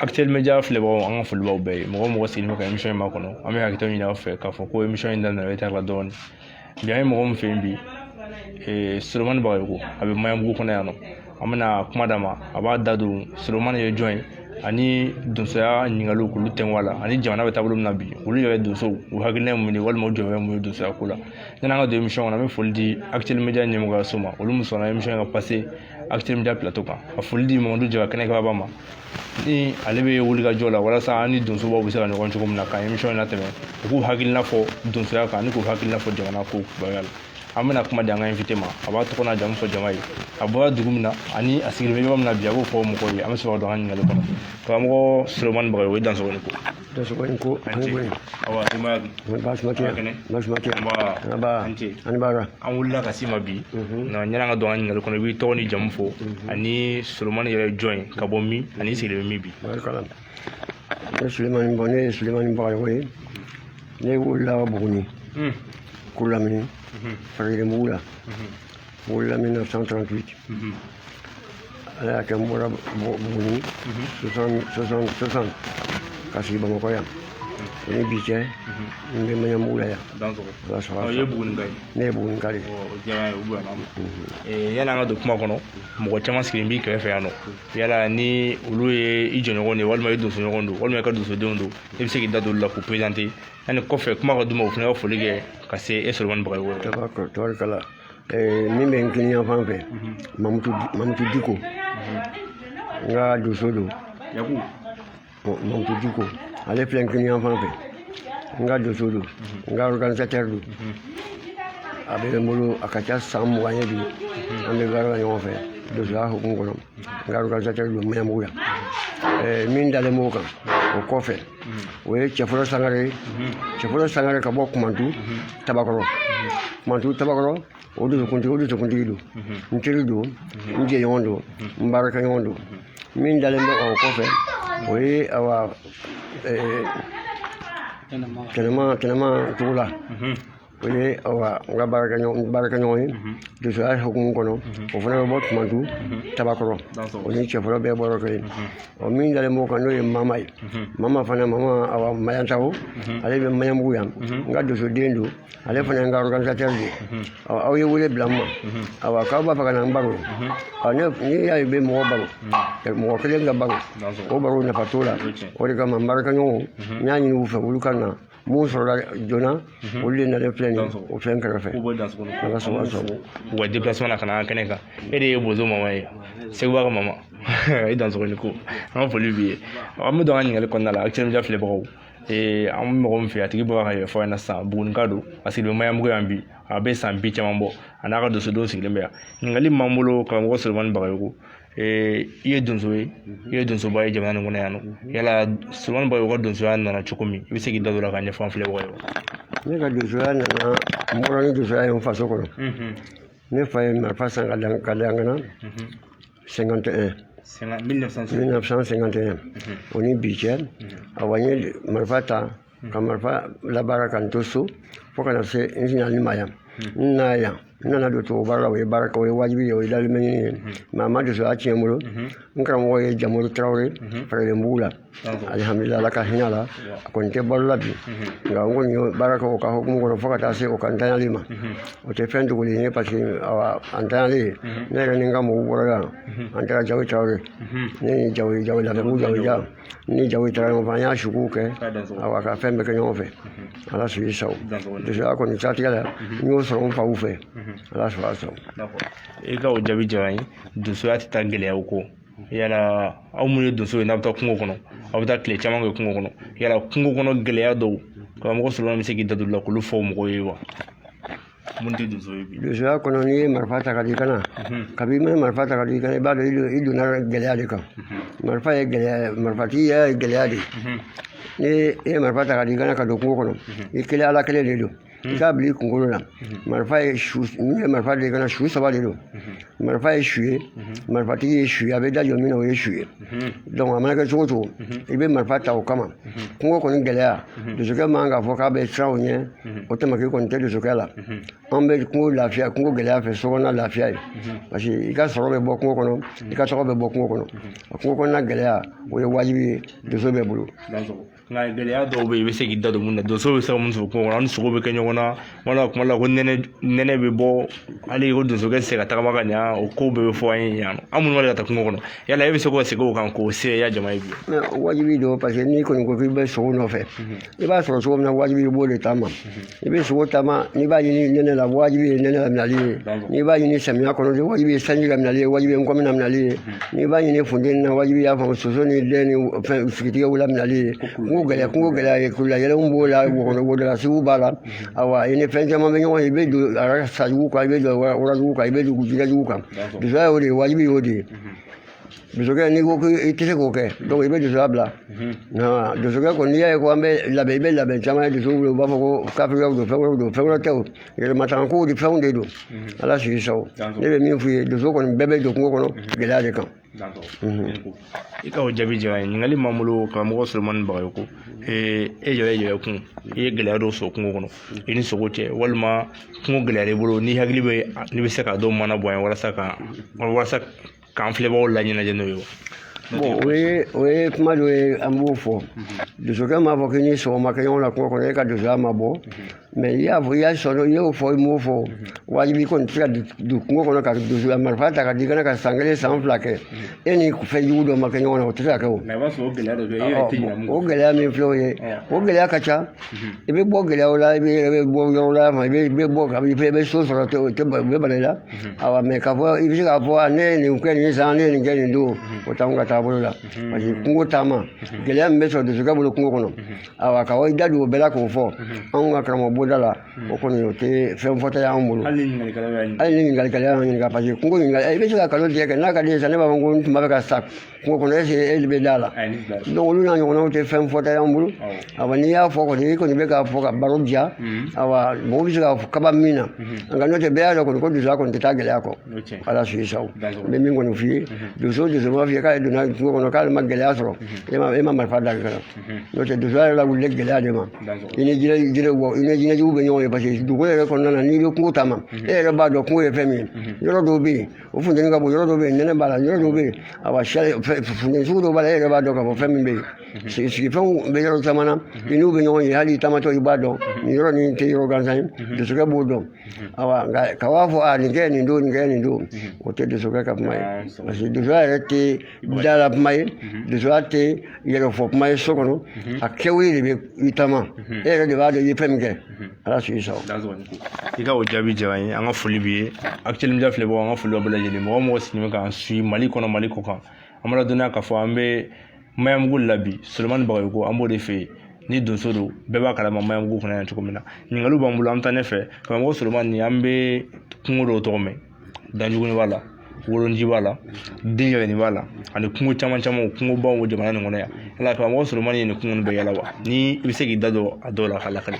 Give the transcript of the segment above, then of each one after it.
Actuel Media filɛbagaw an ka foli b'aw bɛɛ ye mɔgɔ mɔgɔ sigilen bɛ ka emisiyɔn in makɔnɔ an bɛ hakɛto ɲini aw fɛ k'a fɔ ko emisiyɔn in daminɛ retard la dɔɔnin bi an ye mɔgɔ min fɛ yen bi solomani bagayogo a bɛ maɲanbugu kɔnɔ yan nɔ an bɛna kuma d'a ma a b'a da don solomani ye jɔn ye ani donsoya ɲininkaliw k'olu tɛnku a la ani jamana bɛ taabolo min na bi olu yɛrɛ donsow u hakilina ye mun ye walima u jɔyɔrɔ ye mun ye donsoya ko la yanni an ka don emisiyɔn kɔnɔ an bɛ foli di Actuel Media ɲɛmɔgɔyaso ma olu min sɔnna emisiyɔn in ka pase Actuel Media plateau kan ka foli di mamadu jara kɛnɛ kababa ma ni ale bɛ wulikajɔ la walasa an ni donsobaw bɛ se ka ɲɔgɔn cogo min na ka émission in latɛmɛ u k'u hakilina fɔ donsoya kan ani k'u hakilina fɔ jamana ko kibaruya la an bɛna kuma di an ka invité ma a b'a tɔgɔ n'a jamu fɔ jama ye a bɔra dugu min na ani a sigilen bɛ yɔrɔ min na bi a b'o fɔ mɔgɔw ye an bɛ sɔrɔ ka don an ka ɲininkali kɔnɔ karamɔgɔ solomani bagayogo i dansɔgɔ ni ko dansɔgɔ ni ko an ko in awa i ma baasi ma kɛ Kɛnɛ. baasi ma kɛ Nba. an ba An ce. ani baara an wulila ka s'i ma bi nka yanni an ka don an ka ɲininkali kɔnɔ i b'i tɔgɔ ni jamu fɔ ani solomani yɛrɛ ye jɔn ye ka bɔ min ani i sigilen bɛ min bi barikala ne sulemani bɔ ne ye sulemani bagayogo ye ne wulila ka buguni kurulamini faragelenbugu la N wolola 1938. Mhm. Ala y'a kɛ n bɔra Bo- Buguni 60 ka sigi Bamakɔ yan. O ni bi cɛ n bɛ Maɲanbugu la yan. Dansɔgɔ. I dansɔgɔ Ɔ, i ye Bugunika ye. Ne ye Bugunika de ye. Ɔ, o diyara n ye, o bonyana n ma. Ee, yanni an ka don kuma kɔnɔ mɔgɔ caman sigilen b'i kɛrɛfɛ yan nɔ yala ni olu ye i jɔɲɔgɔn de ye walima i donsoɲɔgɔn don walima i ka donsodenw don i bɛ se k'i da don olu la k'u perezante yanni kɔfɛ kuma ka d'u ma u fana ka foli kɛ ka se e solomani bagayogo yɛrɛ ma. Tabarikala. min bɛ n kinin yanfan fɛ mamutu diko n ka donso don mamutu diko ale filɛ n kinin yanfan fɛ n ka donso don n ka organisateur don a bɛ n bolo a ka ca san mugan ye bi an bɛ baara la ɲɔgɔn fɛ donsoya hukumu kɔnɔ N ka organisateur don Maɲanbugu yan ɛɛ min dalen b'o kan o kɔfɛ o ye Cɛfɔlɔ Sangare ye Cɛfɔlɔ Sangare ka bɔ Kumantu Tabakɔrɔ Kumantu Tabakɔrɔ o donsokuntigi o donsokuntigi don n teri don n jɛɲɔgɔn don n baarakɛɲɔgɔn don min dalen bɛ o kɔfɛ o ye awa ɛɛ tɛnɛma tɛnɛma togola o ye n ka baarakɛɲɔgɔn ye donsoya hukumu kɔnɔ o fana bɛ bɔ kumantu tabakɔrɔ o ni cɛfɔlɔ bɛɛ bɔra kelen ɔ min dalen b'o kan n'o ye mama ye mama fana mama awa mayantago ale bɛ maɲanbugu yan n ka donsoden don ale fana ye n ka organisateur de ye aw ye wele bila n ma awa k'aw b'a fɛ ka na n baro n'i y'a ye bɛ mɔgɔ baro mɔgɔ kelen ka baro o baro nafa t'o la o de kama n baarakɛɲɔgɔnw n y'a ɲini u fɛ olu ka na minnu sɔrɔla joona olu de nalen filɛ nin ye o fɛn kɛrɛfɛ an ka sɔrɔ sɔrɔ u ka depilasema na ka na an kɛnɛ kan e de ye bozo mama ye seguba ka mama i dansɔgɔ ni ko an ka foli b'i ye an bɛ don an ka ɲininkali kɔnɔna la actuel media filɛbagaw ee an bɛ mɔgɔ min fɛ a tigi bɔra k'a yɛrɛ fɔ aw ɲɛna sisan bugunika don a sigilen bɛ maɲanbugu yan bi a bɛ san bi caman bɔ a n'a ka donsodenw sigilen bɛ yan ɲininkali min b'an bolo karamɔgɔ solomani bagayogo i ye donso ye i ye donsoba ye jamana in kɔnɔ yan nɔ yala solomani bagayogo ka donsoya nana cogo min i bɛ se k'i da don a la k'a ɲɛfɔ an filɛbagaw ye ne ka donsoya nana n bɔra ni donsoya ye n faso kɔnɔ ne fa ye marifa san k'a da n kan na cinquante et un mille neuf cent cinquante et un o ni bi cɛ awa n ye marifa ta ka marifa labaara ka n to so fo ka na se n nali ma yan n na yan n nana don tubabu baara la o ye baara kɛ o ye wajibi ye o ye dahirimɛɲini ye mais a ma donsoya tiɲɛ n bolo n karamɔgɔ ye jamuru tarawele fɛrɛlenbugu la alihamudulila ala ka hinɛ la a kɔni tɛ balo la bi nka n kɔni ye baara kɛ o ka hukumu kɔnɔ fo ka taa se o ka ntanyali ma o tɛ fɛn dogolen ye parce que awa a ntanyalen ne yɛrɛ ni n ka mɔgɔw bɔra yan an taara jawoyi tarawele ne ni jawoyi jawoyi lafiyabugu jawoyi ja ni jawoyi taara ɲɔgɔn fɛ an y'a sukow kɛ awa ka fɛn bɛɛ kɛ ɲɔgɔn fɛ ala sago i sago donsoya kɔni siratigɛ la n y'o sɔrɔ n faw fɛ ala sago a sago i ka o jaabi diyara n ye donsoya tɛ taa gɛlɛyaw kɔ yala aw minnu ye donso ye n'aw bɛ taa kungo kɔnɔ aw bɛ taa tile caman kɛ kungo kɔnɔ yala kungo kɔnɔ gɛlɛya dɔw karamɔgɔ solomani bɛ se k'i da don la k'olu fɔ mɔgɔw ye wa minnu tɛ donso ye bi donsoya kɔnɔ n'i ye marifa ta k'a d'i kan na kabi i ma marifa ta k'a d'i kan na i b'a dɔn i donna gɛlɛya de kan marifa ye gɛlɛya marifatigi yɛrɛ ye gɛlɛya de ni i ye marifa ta k'a d'i kan na ka don kungo kɔnɔ i kelen ala kelen de don i k'a bila i kunkolo la marifa ye su n'i ye marifa d'i kan na su saba de don marifa ye su ye marifatigi ye su ye a bɛ da jɔ min na o ye su ye a mana kɛ cogo cogo i bɛ marifa ta o kama kungo kɔni gɛlɛya donsokɛ man k'a fɔ k'a bɛ siran o ɲɛ o tamaki kɔni tɛ donsokɛ la an bɛ kungo lafiya kungo gɛlɛya fɛ sokɔnɔna lafiya ye parce que i ka sɔrɔ bɛ bɔ kungo kɔnɔ i ka tɔgɔ bɛ bɔ kungo kɔnɔ a kungo kɔnɔna gɛlɛya o ye wajibi ye donso bɛɛ bolo nka gɛlɛya dɔw bɛ yen i bɛ se k'i da don minnu na donso bɛ se ka mun sɔrɔ kungo kɔnɔ an ni sogo bɛ kɛ ɲɔgɔn na wala kuma la ko nɛnɛ bɛ bɔ hali ko donsokɛ tɛ se ka tagama ka ɲa o ko bɛɛ bɛ fɔ an ye yan nɔ an minnu b'a ka taa kungo kɔnɔ yala e bɛ se k'o segin o kan k'o seereya jama ye bi wajibi don parce que n'i kɔni ko k'i bɛ sogo nɔfɛ i b'a sɔrɔ cogo min na wajibi i b'o de taama i bɛ sogo taama n'i b'a ɲini nɛnɛ la wajibi ye nɛnɛ laminali ye n'i b'a ɲini samiya kɔnɔ wajibi ye sanji laminali ye wajibi ye nkɔmi laminali ye n'i b'a ɲini funteni na wajibi y'a faamu soso ni dɛn ni fɛn sigitigɛw laminali ye kungo gɛlɛya kungo gɛlɛya ye kulu la yɛlɛw b'o la wodalasigiw b'a la awa i ni fɛn caman bɛ ɲɔgɔn ye i bɛ don sajugu kan i bɛ don warajugu kan i bɛ don jɛgɛjugu kan donsoya y'o de ye wajibi y'o de ye donsokɛ n'i ko k'i i tɛ se k'o kɛ i bɛ donsoya bila donsokɛ kɔni n'i y'a ye ko an bɛ labɛn i bɛ labɛn caman ye donso bolo u b'a fɔ ko kafiriyaw don fɛn wɛrɛw don fɛn wɛrɛ tɛ o yɛrɛmatanga kow de fɛnw de don ala sago i sago ne bɛ min f'u ye donso kɔni bɛɛ bɛ don kungo kɔnɔ gɛlɛya de kan i ka o jaabi diyara n ye ɲininkali b'an bolo karamɔgɔ solomani bagayoko e yɛrɛ yɛrɛ kun i ye gɛlɛya dɔ sɔrɔ kungo kɔnɔ i ni sogo cɛ walima kungo gɛlɛya b'i bolo n'i hakili bɛ n'i bɛ se k'a dɔw maana bɔ yan walasa ka walasa k'an filɛbagaw laɲɛnajɛ n'o ye o ye o ye kuma dɔ ye an b'o fɔ donsokɛ m'a fɔ k'i ni sogo ma kɛ ɲɔgɔn na kungo kɔnɔ e ka donsoya ma bɔ mais i y'a fɔ i y'a sɔrɔ i y'o fɔ i m'o fɔ wajibi kɔni tɛ se ka don kungo kɔnɔ ka donsoya marifa ta k'a d'i kan na ka san kelen san fila kɛ e ni fɛn jugu dɔ ma kɛ ɲɔgɔn na o tɛ se ka kɛ o o gɛlɛya min filɛ o ye o gɛlɛya ka ca i bɛ bɔ gɛlɛyaw la i bɛ i bɛ bɔ yɔrɔ la i bɛ i bɛ bɔ ka i bɛ i bɛ so sɔrɔ o tɛ ba- o bɛ bala i la awa mais k'a fɔ i bɛ se k'a fɔ a ne ye nin kɛ nin san ne ye nin kɛ nin don o t'anw ka taabolo la parce que kungo taama gɛlɛya min bɛ sɔrɔ donsokɛ bolo kungo kɔnɔ awa ka i da don o bɛɛ la k'o fɔ anw ka karamɔgɔ bonda la o kɔni o tɛ fɛn fɔta ye anw bolo hali ni ɲininkali y'a ɲini hali ni ɲininkali kɛla y'an ɲininka parce que kungo ɲininkali i bɛ se ka nkalontigɛ kɛ n'a ka d'i ye sa ne b'a fɔ ko n tun b'a fɛ ka sa Kungo kɔnɔ est-ce que e bɛ d'a la donc olu n'a ɲɔgɔnnaw tɛ fɛn fɔta y'an bolo awa n'i y'a fɔ kɔni i kɔni bɛ k'a fɔ ka baro diya awa mɔgɔw bɛ se ka kaba min na nka n'o tɛ bɛɛ y'a dɔn kɔni ko donsoya kɔni tɛ taa gɛlɛya kɔ ala sago i sago n bɛ min kɔni f'i ye donso o donso b'a f'i ye k'ale donna kungo kɔnɔ k'ale ma gɛlɛya sɔrɔ e ma e ma marifa da kan na n'o tɛ donsoya yɛrɛ lawulilen gɛlɛya de ma i ni jinɛ jinɛ bɔ i ni jinɛjugu bɛ ɲɔgɔn ye parce que dugu yɛrɛ kɔnɔna na n'i bɛ kungo taama e yɛrɛ b'a dɔn kungo ye fɛn min ye yɔrɔ dɔw bɛ yen o funteni ka bon yɔrɔ dɔ bɛ yen nɛnɛ b'a la yɔrɔ dɔ bɛ yen awa funteni sugu dɔ b'a la e yɛrɛ b'a dɔn k'a fɔ fɛn min bɛ yen mhm. sigi sigifɛnw bɛ yɔrɔ caman na mhm. i n'u bɛ ɲɔgɔn ye hali i taamatɔ i b'a dɔn mhm. nin yɔrɔ nin tɛ yɔrɔ gansan ye donsokɛ b'o dɔn awa nka ka b'a fɔ a nin kɛ nin don nin kɛ nin don o tɛ donsokɛ ka kuma ye parce que donsoya yɛrɛ tɛ dala kuma ye donsoya tɛ yɛrɛfɔ kuma ye so kɔnɔ a kɛwale de bɛ i taama e yɛrɛ de b'a dɔn i ye fɛn min kɛ ala sago i sago i ka o jaabi diyara n ye an ka foli b'i ye actuel media filɛbagaw an ka foli b'a bɛɛ lajɛlen mɔgɔ o mɔgɔ sigilen bɛ k'an suit mali kɔnɔ mali kɔkan an b'a ladɔnniya k'a fɔ an bɛ maɲanbugu la bi solomani bagayoko an b'o de fɛ yen ni donso don bɛɛ b'a kalama maɲanbugu kɔnɔ yan cogo min na ɲininkaliw b'an bolo an bɛ taa ɲɛfɛ karamɔgɔ solomani an bɛ kungo dɔw tɔgɔ mɛn danjuguni b'a la wolonji b'a la den yɛrɛ nin b'a la ani kungo caman caman kungobaw bɛ jamana nin kɔnɔ yan yala karamɔgɔ solomani ye nin kungo nin bɛɛ yaala wa ni i bɛ se k'i da don a dɔw la k'a lakali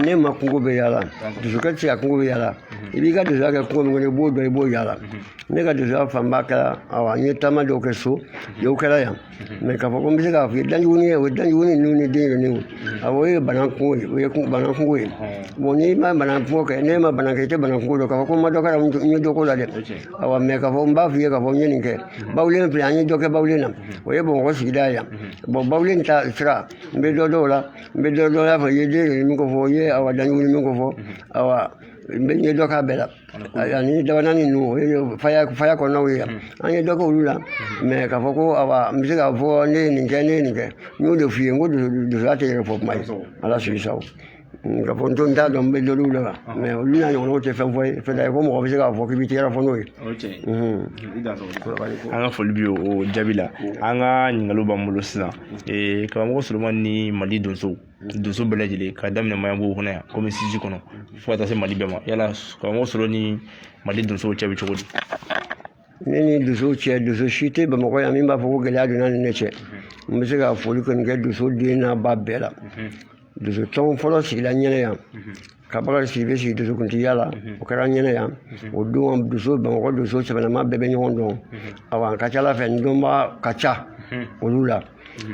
ne ma kungo bɛɛ yaala donsokɛ tɛ se ka kungo bɛɛ yaala i b'i ka donsoya kɛ kungo min kɔnɔ i b'o dɔn i b'o yaala ne ka donsoya fanba kɛra awa n ye taama dɔw kɛ so dɔw kɛra yan mɛ k'a fɔ ko n bɛ se k'a fɔ ye danjuguni ye o ye danjuguni ninnu ni denyɛrɛni ninnu awɔ o ye bana kungo ye o ye bana kungo ye bɔn n'i ma bana kungo kɛ n'e ma bana kɛ i tɛ bana kungo dɔn k'a fɔ ko n ma dɔ k'a la n ye dɔ k'o la dɛ awɔ mɛ k'a fɔ n b'a f'i ye k'a fɔ n ye nin kɛ bawulen filɛ an ye dɔ kɛ bawulen na o ye bamakɔ sigida ye yan bɔn bawulen ta sira n bɛ dɔ dɔw la n bɛ dɔ dɔn y'a fɔ i ye denyɛrɛni min ko fɔ i ye awa danjuguni min ko fɔ awa n bɛ n ye dɔ k'a bɛɛ la ani dabana ninnu o ye faya faya kɔnɔnaw ye yan an ye dɔ kɛ olu la mɛ k'a fɔ ko awa n bɛ se k'a fɔ ne ye nin kɛ ne ye nin kɛ n y'o de f'i ye n ko donsoya tɛ yɛrɛfɔ kuma ye ala sago i sago k'a fɔ n to n t'a dɔn n bɛ dɔ olu la mɛ olu n'a ɲɔgɔnnaw tɛ fɛn fɔ ye fɛn tɛ ko mɔgɔ bɛ se k'a fɔ k'i bɛ tɛgɛrɛ fɔ n ye an ka foli b'i ye o jaabi la an ka ɲininkaliw b'an bolo sisan karamɔgɔ solomani ni mali donso donso bɛɛ lajɛlen k'a daminɛ maɲanbugu kɔnɔ yan komini sisi kɔnɔ fo ka taa se mali bɛɛ ma yala karamɔgɔ solo ni mali donsow cɛ bɛ cogo di ne ni donsow cɛ donso si tɛ bamakɔ yan min b'a fɔ ko gɛlɛya donna ni ne cɛ n bɛ se ka foli kɔni kɛ donso den n'a ba bɛɛ la donso tɔn fɔlɔ sigila n ɲɛna yan ka bakari sidibe sigi donsokuntigiya la o kɛra n ɲɛna yan o don donso bamakɔ donso sɛbɛnama bɛɛ bɛ ɲɔgɔn dɔn awa a ka ca ala fɛ n dɔnbaa ka ca olu la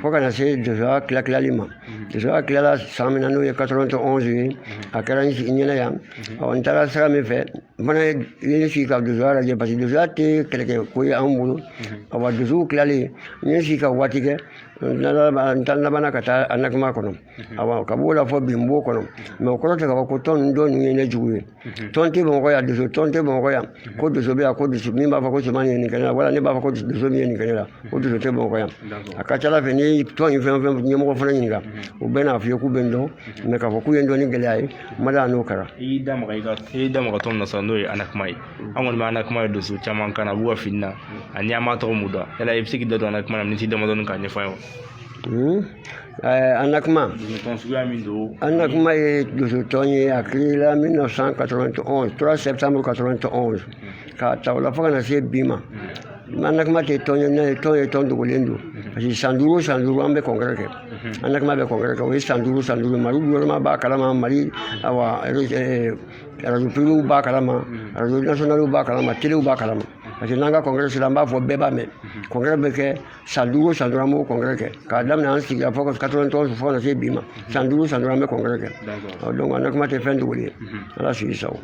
fo ka na se donsoya tilatilali ma donsoya tilala san min na n'o ye 91 ye a kɛra n sigi ɲɛna yan awa n taara sira min fɛ n fana ye ne sigi ka donsoya lajɛ parce que donsoya tɛ kɛlɛkɛ ko ye an bolo awa donsow tilalen n ye sigi ka waati kɛ n taara labanna ka taa anakima kɔnɔ awa ka b'o la fo bi n b'o kɔnɔ mɛ o kɔrɔ tɛ k'a fɔ ko tɔn tɔ ninnu ye ne jugu ye tɔn tɛ bamakɔ yan donso tɔn tɛ bamakɔ yan ko donso bɛ yan ko donso min b'a fɔ ko cɛ min ye nin kɛ ne la wala ne b'a fɔ ko donso min ye nin kɛ ne la ko donso tɛ bamakɔ yan a ka ca ala fɛ n'i ye tɔn in fɛn o fɛn ɲɛmɔgɔ fana ɲininka u bɛɛ n'a f'i ye k'u bɛ n dɔn mɛ k'a fɔ k'u ye n dɔn ni gɛlɛya ye n ma da n'o kɛra i y'i da maga i ka i y'i da maga tɔn min na sisan n'o ye anakima ye an kɔni bɛ anakima ye donso caman kan na a b'u ka fini na ani an b'a tɔgɔ mɛn dɔrɔn yala i bɛ se k'i da don anakima na miniti damadɔni k'a ɲɛfɔ an ye wa anakima anakima ye donsotɔn ye a kerela 1991 3 septembre 91 k'a ta o la fo ka na se bi ma anakima tɛ tɔn ye n'a ye tɔn ye tɔn dogolen don parce que san duuru san duuru an bɛ congrès kɛ anakima bɛ congrès kɛ o ye san duuru san duuru mali gouvernement b'a kalama mali awa arajo privéw b'a kalama arajo nationaliw b'a kalama telew b'a kalama parce que n'an ka congrès sera an b'a fɔ bɛɛ b'a mɛn congrès bɛ kɛ san duuru san duuru an b'o congrès kɛ k'a daminɛ an sigira fo 91 fo ka se bi ma san duuru san duuru an bɛ congrès kɛ ɔ donc anakima tɛ fɛn dogolen ye ala sago i sago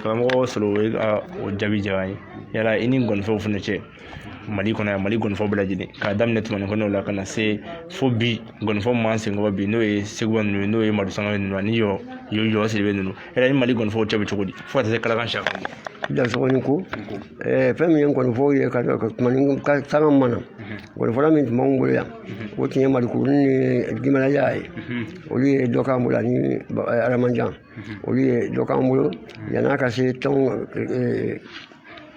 karamɔgɔ solo o ye o jaabi diyara an ye yala i ni ngɔnifɔw fana cɛ mali kɔnɔ yan mali ngɔnifɔ bɛɛ lajɛlen k'a daminɛ tumani kɔnɛ la ka na se fo bi ngɔnifɔ min b'an senkɔrɔ bi n'o ye sekuba ninnu ye n'o ye madu sangare ninnu ani yoro yoro sidibe ninnu hɛrɛ ni mali ngɔnifɔw cɛ bɛ cogo di fo ka taa se kalakan siyaka dansɔgɔni ko fɛn min ye ngɔnifɔw ye ka tumani ka sanga ma na ngɔnifɔla min tun b'anw bolo yan o tun ye malikurunin ni gimalaya ye olu ye dɔ k'an bolo ani aramanjan olu ye dɔ k'an bolo yann'a ka se tɔn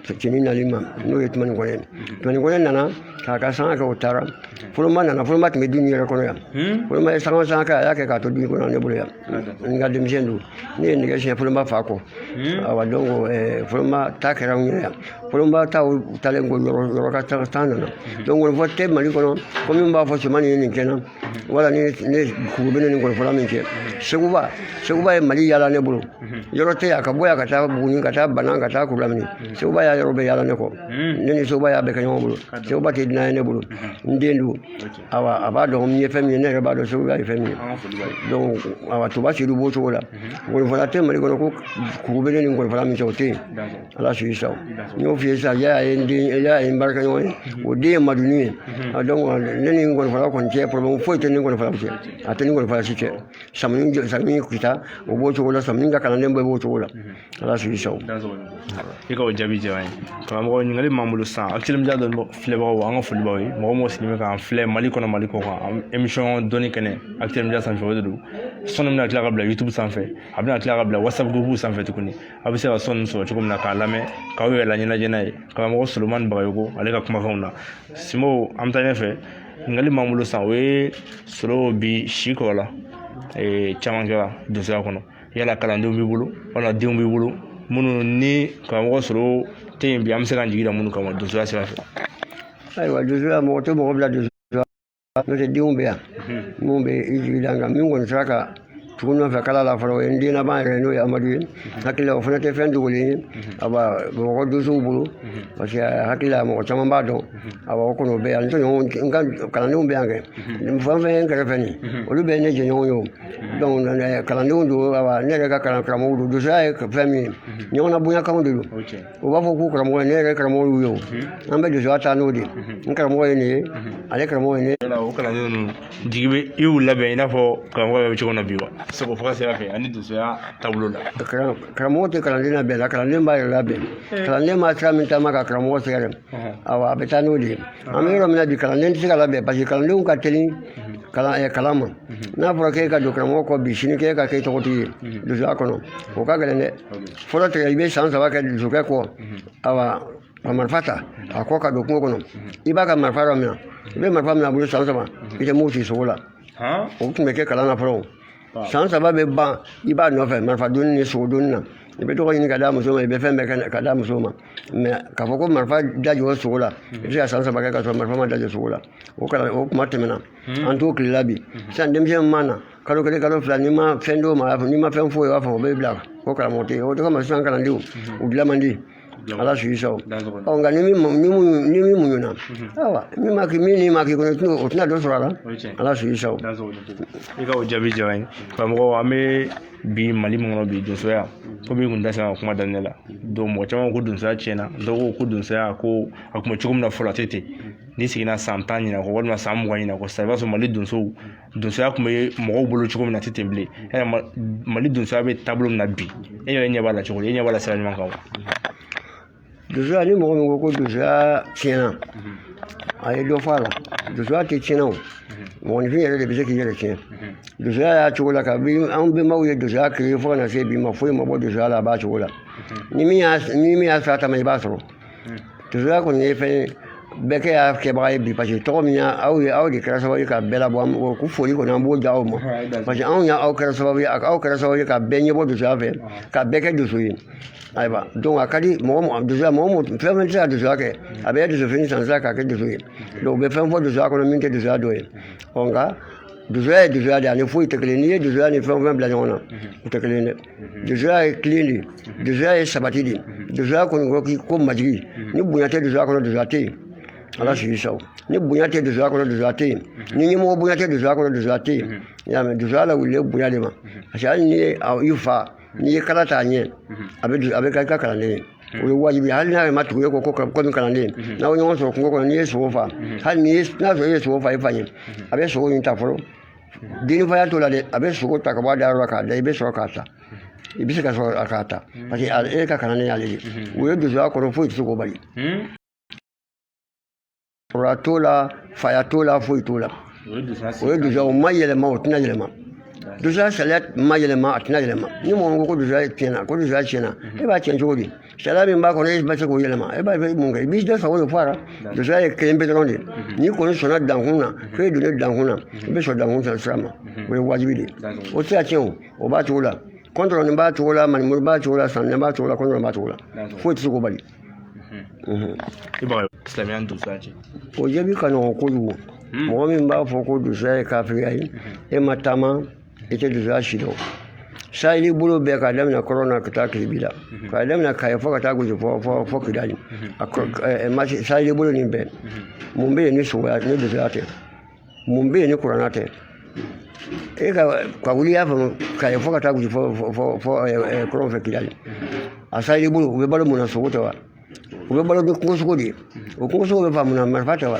cɛni nali ma n'o ye tumani kɔnɛ tumani kɔnɛ nana k'a ka sanga kɛ o taara fɔlɔma nana fɔlɔma tun bɛ du nin yɛrɛ kɔnɔ yan fɔlɔma ye sanga sanga kɛ a y'a kɛ k'a to du nin kɔnɔ ne bolo yan n ka denmisɛn don ne ye nɛgɛ siɲɛ fɔlɔma fa kɔ awa donc fɔlɔma ta kɛra n yɛrɛ yan fɔlɔma ta taalen kɔ yɔrɔ yɔrɔ ka ta nana donc ngɔnifɔ tɛ mali kɔnɔ ko min b'a fɔ cɛman nin ye nin kɛ n na wala ne ne kuru bɛ ne ni ngɔnifɔla min cɛ seguba seguba ye mali yaala ne bolo yɔrɔ tɛ yan ka bɔ yan ka taa buguni ka taa banan ka taa kurulamini seguba y'a yɔrɔ bɛɛ yaala ne kɔ ne ni seguba y'a bɛɛ kɛ ɲɔgɔn bolo seguba tɛ dunan ye ne bolo n den don awa a b'a dɔn n ye fɛn min ye ne yɛrɛ b'a dɔn seguba ye fɛn min ye donc awa toba sedu b'o cogo la ngɔnifɔla tɛ mali kɔnɔ ko kuru bɛ ne ni ngɔnifɔla min cɛ o tɛ yen ala su sa n y'o f'i ye sisan yala ye n den yala ye n baarakɛɲɔgɔn ye o den ye maduni ye a donc ne ni ngɔnifɔla kɔni cɛ problème foyi tɛ ne ni ngɔnifɔla cɛ a tɛ ni ngɔnifɔla si cɛ samuni jɔ samuni kita o b'o cogo la samuni ka kalanden bɛɛ b'o cogo la ala su sa i ka o jaabi diyara an ye karamɔgɔ ɲininkali m'an bolo sisan akilimija dɔ filɛbagaw an ka foli b'aw ye mɔgɔ mɔgɔ sigilen bɛ k'an filɛ mali kɔnɔ mali kɔkan émission dɔnni kɛnɛ akilimija sanfɛ o de don son nin bɛna tila ka bila youtube sanfɛ a bɛna tila ka bila whatsapp groupe sanfɛ tuguni a bɛ se ka son nin sɔrɔ cogo min na k'a lamɛn k'aw yɛrɛ laɲɛnajɛ n'a ye karamɔgɔ solomani bagayogo ale ka kumakanw na simo an bɛ taa ɲɛfɛ ɲininkali m'an bolo sisan o ye solo bi si kɔrɔla caman kɛra donsoya kɔnɔ yala kalandenw b'i bolo wala denw b'i bolo minnu ni karamɔgɔ solo tɛ yen bi an bɛ se k'an jigi da minnu kama donsoya sira fɛ ayiwa donsoya mɔgɔ tɛ mɔgɔ bila donso n'o tɛ denw bɛ yan minnu bɛ i jigi da n kan min kɔni sera ka tugu n nɔfɛ kala la fɔlɔ o ye n den laban yɛrɛ n'o ye amadu ye hakili la o fana tɛ fɛn dogolen ye awa bamakɔ donsow bolo parce que hakili la mɔgɔ caman b'a dɔn awa o kɔni o bɛ yan n tɔɲɔgɔnw n ka kalandenw bɛ yan kɛ nin fɛn fɛn ye n kɛrɛfɛ nin olu bɛɛ ye ne jɛɲɔgɔn ye o donc kalandenw don awa ne yɛrɛ ka kalan karamɔgɔw don donsoya ye fɛn min ye ɲɔgɔnna bonyakanw de don u b'a fɔ k'u karamɔgɔ ye ne yɛrɛ karamɔgɔ y'u ye o an bɛ donsoya taa n'o de ye n karamɔgɔ ye nin ye ale karamɔgɔ ye ne ye o kalanden ninnu jigi bɛ i y'u labɛn i n'a fɔ karamɔgɔ bɛ cogo min na bi wa sogo faga sira fɛ ani donsoya taabolo la karamɔgɔ tɛ kalanden labɛn na kalanden b'a yɛrɛ labɛn kalanden b'a sira min taama ka karamɔgɔ sɛgɛrɛ awa a bɛ taa n'o de ye an bɛ yɔrɔ min na bi kalanden tɛ se ka labɛn parce que kalandenw ka teli kalan eh, kalan ma n'a fɔra k'e ka don karamɔgɔ kɔ bi sini k'e ka kɛ tɔgɔtigi ye donsoya kɔnɔ o ka gɛlɛn dɛ fɔlɔ tigɛ i bɛ san saba kɛ donsokɛ kɔ awa ka marifa ta a kɔ ka don kungo kɔnɔ i b'a ka marifa dɔ minɛ i bɛ marifa minɛ a bolo san saba i tɛ mugu ci sogo la o tun bɛ kɛ kalan na fɔlɔ san saba bɛ ban i b'a nɔfɛ marifa donni ni sogo donni na i bɛ dɔgɔ ɲini ka d'a muso ma i bɛ fɛn bɛɛ ka d'a muso ma mɛ k'a fɔ ko marifa dajɔ sogo la i bɛ se ka san saba kɛ k'a sɔrɔ marifa ma dajɔ sogo la o kalan o kuma tɛmɛna an t'o tile la bi sisan denmisɛnnin mana kalo kelen kalo fila n'i ma fɛn d'o ma n'i ma fɛn foyi o b'a fɔ o bɛ bila ko karamɔgɔ tɛ yen o de kama sisan kalandenw mhm. u dilan man di ala su sɔrɔ ɔ nka ni min ni mun ni min muɲuna mhm. ayiwa min ma k'i min n'i ma k'i kɔnɔ tɛna o tɛna dɔ sɔrɔ a la ala su sɔrɔ i ka o jaabi diyara n ye karamɔgɔ an bɛ bi mali min kɔnɔ bi donsoya komi i kun da sera ka kuma daminɛ la donc mɔgɔ caman ko donsoya tiɲɛna dɔw ko ko donsoya ko a kun bɛ cogo min na fɔlɔ a tɛ ten n'i seginna san tan ɲinan kɔ walima san mugan ɲinan kɔ sisan i b'a sɔrɔ mali donsow donsoya kun bɛ mɔgɔw bolo cogo min na a tɛ ten bilen e yɛrɛ mali donsoya bɛ taabolo min na bi e yɛrɛ ɲɛ b'a la cogo di e ɲɛ b'a la sira ɲuman kan wa donsoya ni mɔgɔ min ko ko donsoya tiɲɛna a ye dɔ fɔ a la donsoya tɛ tiɲɛna o mɔgɔninfin yɛrɛ de bɛ se k'i yɛrɛ tiɲɛ donsoya y'a cogo la kabi an bɛnbaw ye donsoya créé fo ka na se bi ma foyi ma bɔ donsoya la a b'a cogo la ni min y'a ni min y'a sira taama i b'a sɔrɔ donsoya kɔni ye fɛn ye bɛɛ kɛ y'a kɛbaga ye bi paseke tɔgɔ min y'a aw ye aw de kɛra sababu ye ka bɛɛ labɔ an b'o ko foli kɔni an b'o di aw ma parce que anw y'a aw kɛra sababu ye aw kɛra sababu ye ka bɛɛ ɲɛbɔ donsoya fɛ ka bɛɛ kɛ donso ye ayiwa donc a ka di mɔgɔ mɔgɔ donsoya mɔgɔ mɔgɔ fɛn fɛn tɛ se ka donsoya kɛ a bɛ donsofini san sisan k'a kɛ donso ye donc u bɛ fɛn fɔ donsoya kɔnɔ min tɛ donsoya dɔ ye ɔ nka donsoya ye donsoya de ye ani foyi tɛ kelen n'i ye donsoya ni fɛn o fɛn bila ɲɔgɔn na u tɛ kelen ye dɛ donsoya ye tilen de ye donsoya ye sabati de ye donsoya kɔni ko k'i ko majigi ni bonya tɛ donsoya kɔnɔ donsoya tɛ yen ala sigi saw ni bonya tɛ donsoya kɔnɔ donsoya tɛ yen ni ɲɛmɔgɔ bonya tɛ donsoya kɔnɔ donsoya tɛ yen i y'a mɛn donsoya lawulilen bonya de ma parce que hali n'i ye a- i fa n'i ye kala t'a ɲɛ a bɛ do- a bɛ kɛ i ka kalanden ye o ye wajibi ye hali n'a yɛrɛ ma tugu e kɔ ko komi kalanden ye n'aw ye ɲɔgɔn sɔrɔ kungo kɔnɔ n'i ye sogo fa hali n'i ye n'a sɔrɔ e ye sogo fa i fa ɲɛ a bɛ sogo in ta fɔlɔ den ni faya t'o la dɛ a bɛ sogo ta ka bɔ a dayɔrɔ la k'a da i bɛ sɔrɔ k'a ta i bɛ se ka sɔrɔ k'a ta parce que e ka kalanden y'ale de o ye donsoya kɔrɔ foyi tɛ se k'o bali kɔrɔya t'o la faya t'o la foyi t'o la o ye donsoya o ma yɛlɛma o tɛna yɛlɛma donsoya sariya ma yɛlɛma a tɛna yɛlɛma ni mɔgɔ ko ko donsoya tiɲɛna ko donsoya tiɲɛna e b'a tiɲɛ cogo di sariya min b'a kɔnɔ i ma se k'o yɛlɛma e b'a fɛ mun kɛ i b'i da sago de fɔ a la donsoya ye kelen pe dɔrɔn de n'i kɔni sɔnna dankun na fo e donna dankun na i bɛ sɔn dankun fɛ sira ma o ye wajibi de ye o tɛ se ka tiɲɛ o o b'a cogo la kɔntɔrɔnin b'a cogo la manimuru b'a cogo la sanin b'a cogo la kɔntɔrɔn b'a cogo la foyi tɛ se k'o bali i b'a silamɛya ni donsoya cɛ o jaabi ka nɔgɔn kojugu mɔgɔ min b'a fɔ ko donsoya ye kafiriya ye e ma taama i tɛ donsoya si dɔn saheli bolo bɛɛ k'a daminɛ kɔrɔ na ka taa kilebi la k'a daminɛ kaye fɔ ka taa gosi fɔ fɔ fɔ kidali a kɔ- ɛ, ɛ, masi saheli bolo nin bɛɛ mun bɛ yen ni sogoya ni donsoya tɛ mun bɛ yen ni kurana tɛ e ka ka wuli y'a faamu kaye fɔ ka taa gosi fɔ fɔ fɔ fɔ ɛ, ɛ, kɔrɔn fɛ kidali a saheli bolo u bɛ balo mun na sogo tɛ wa u bɛ balo ni kungosogo de ye o kungosogo bɛ faga mun na marifa tɛ wa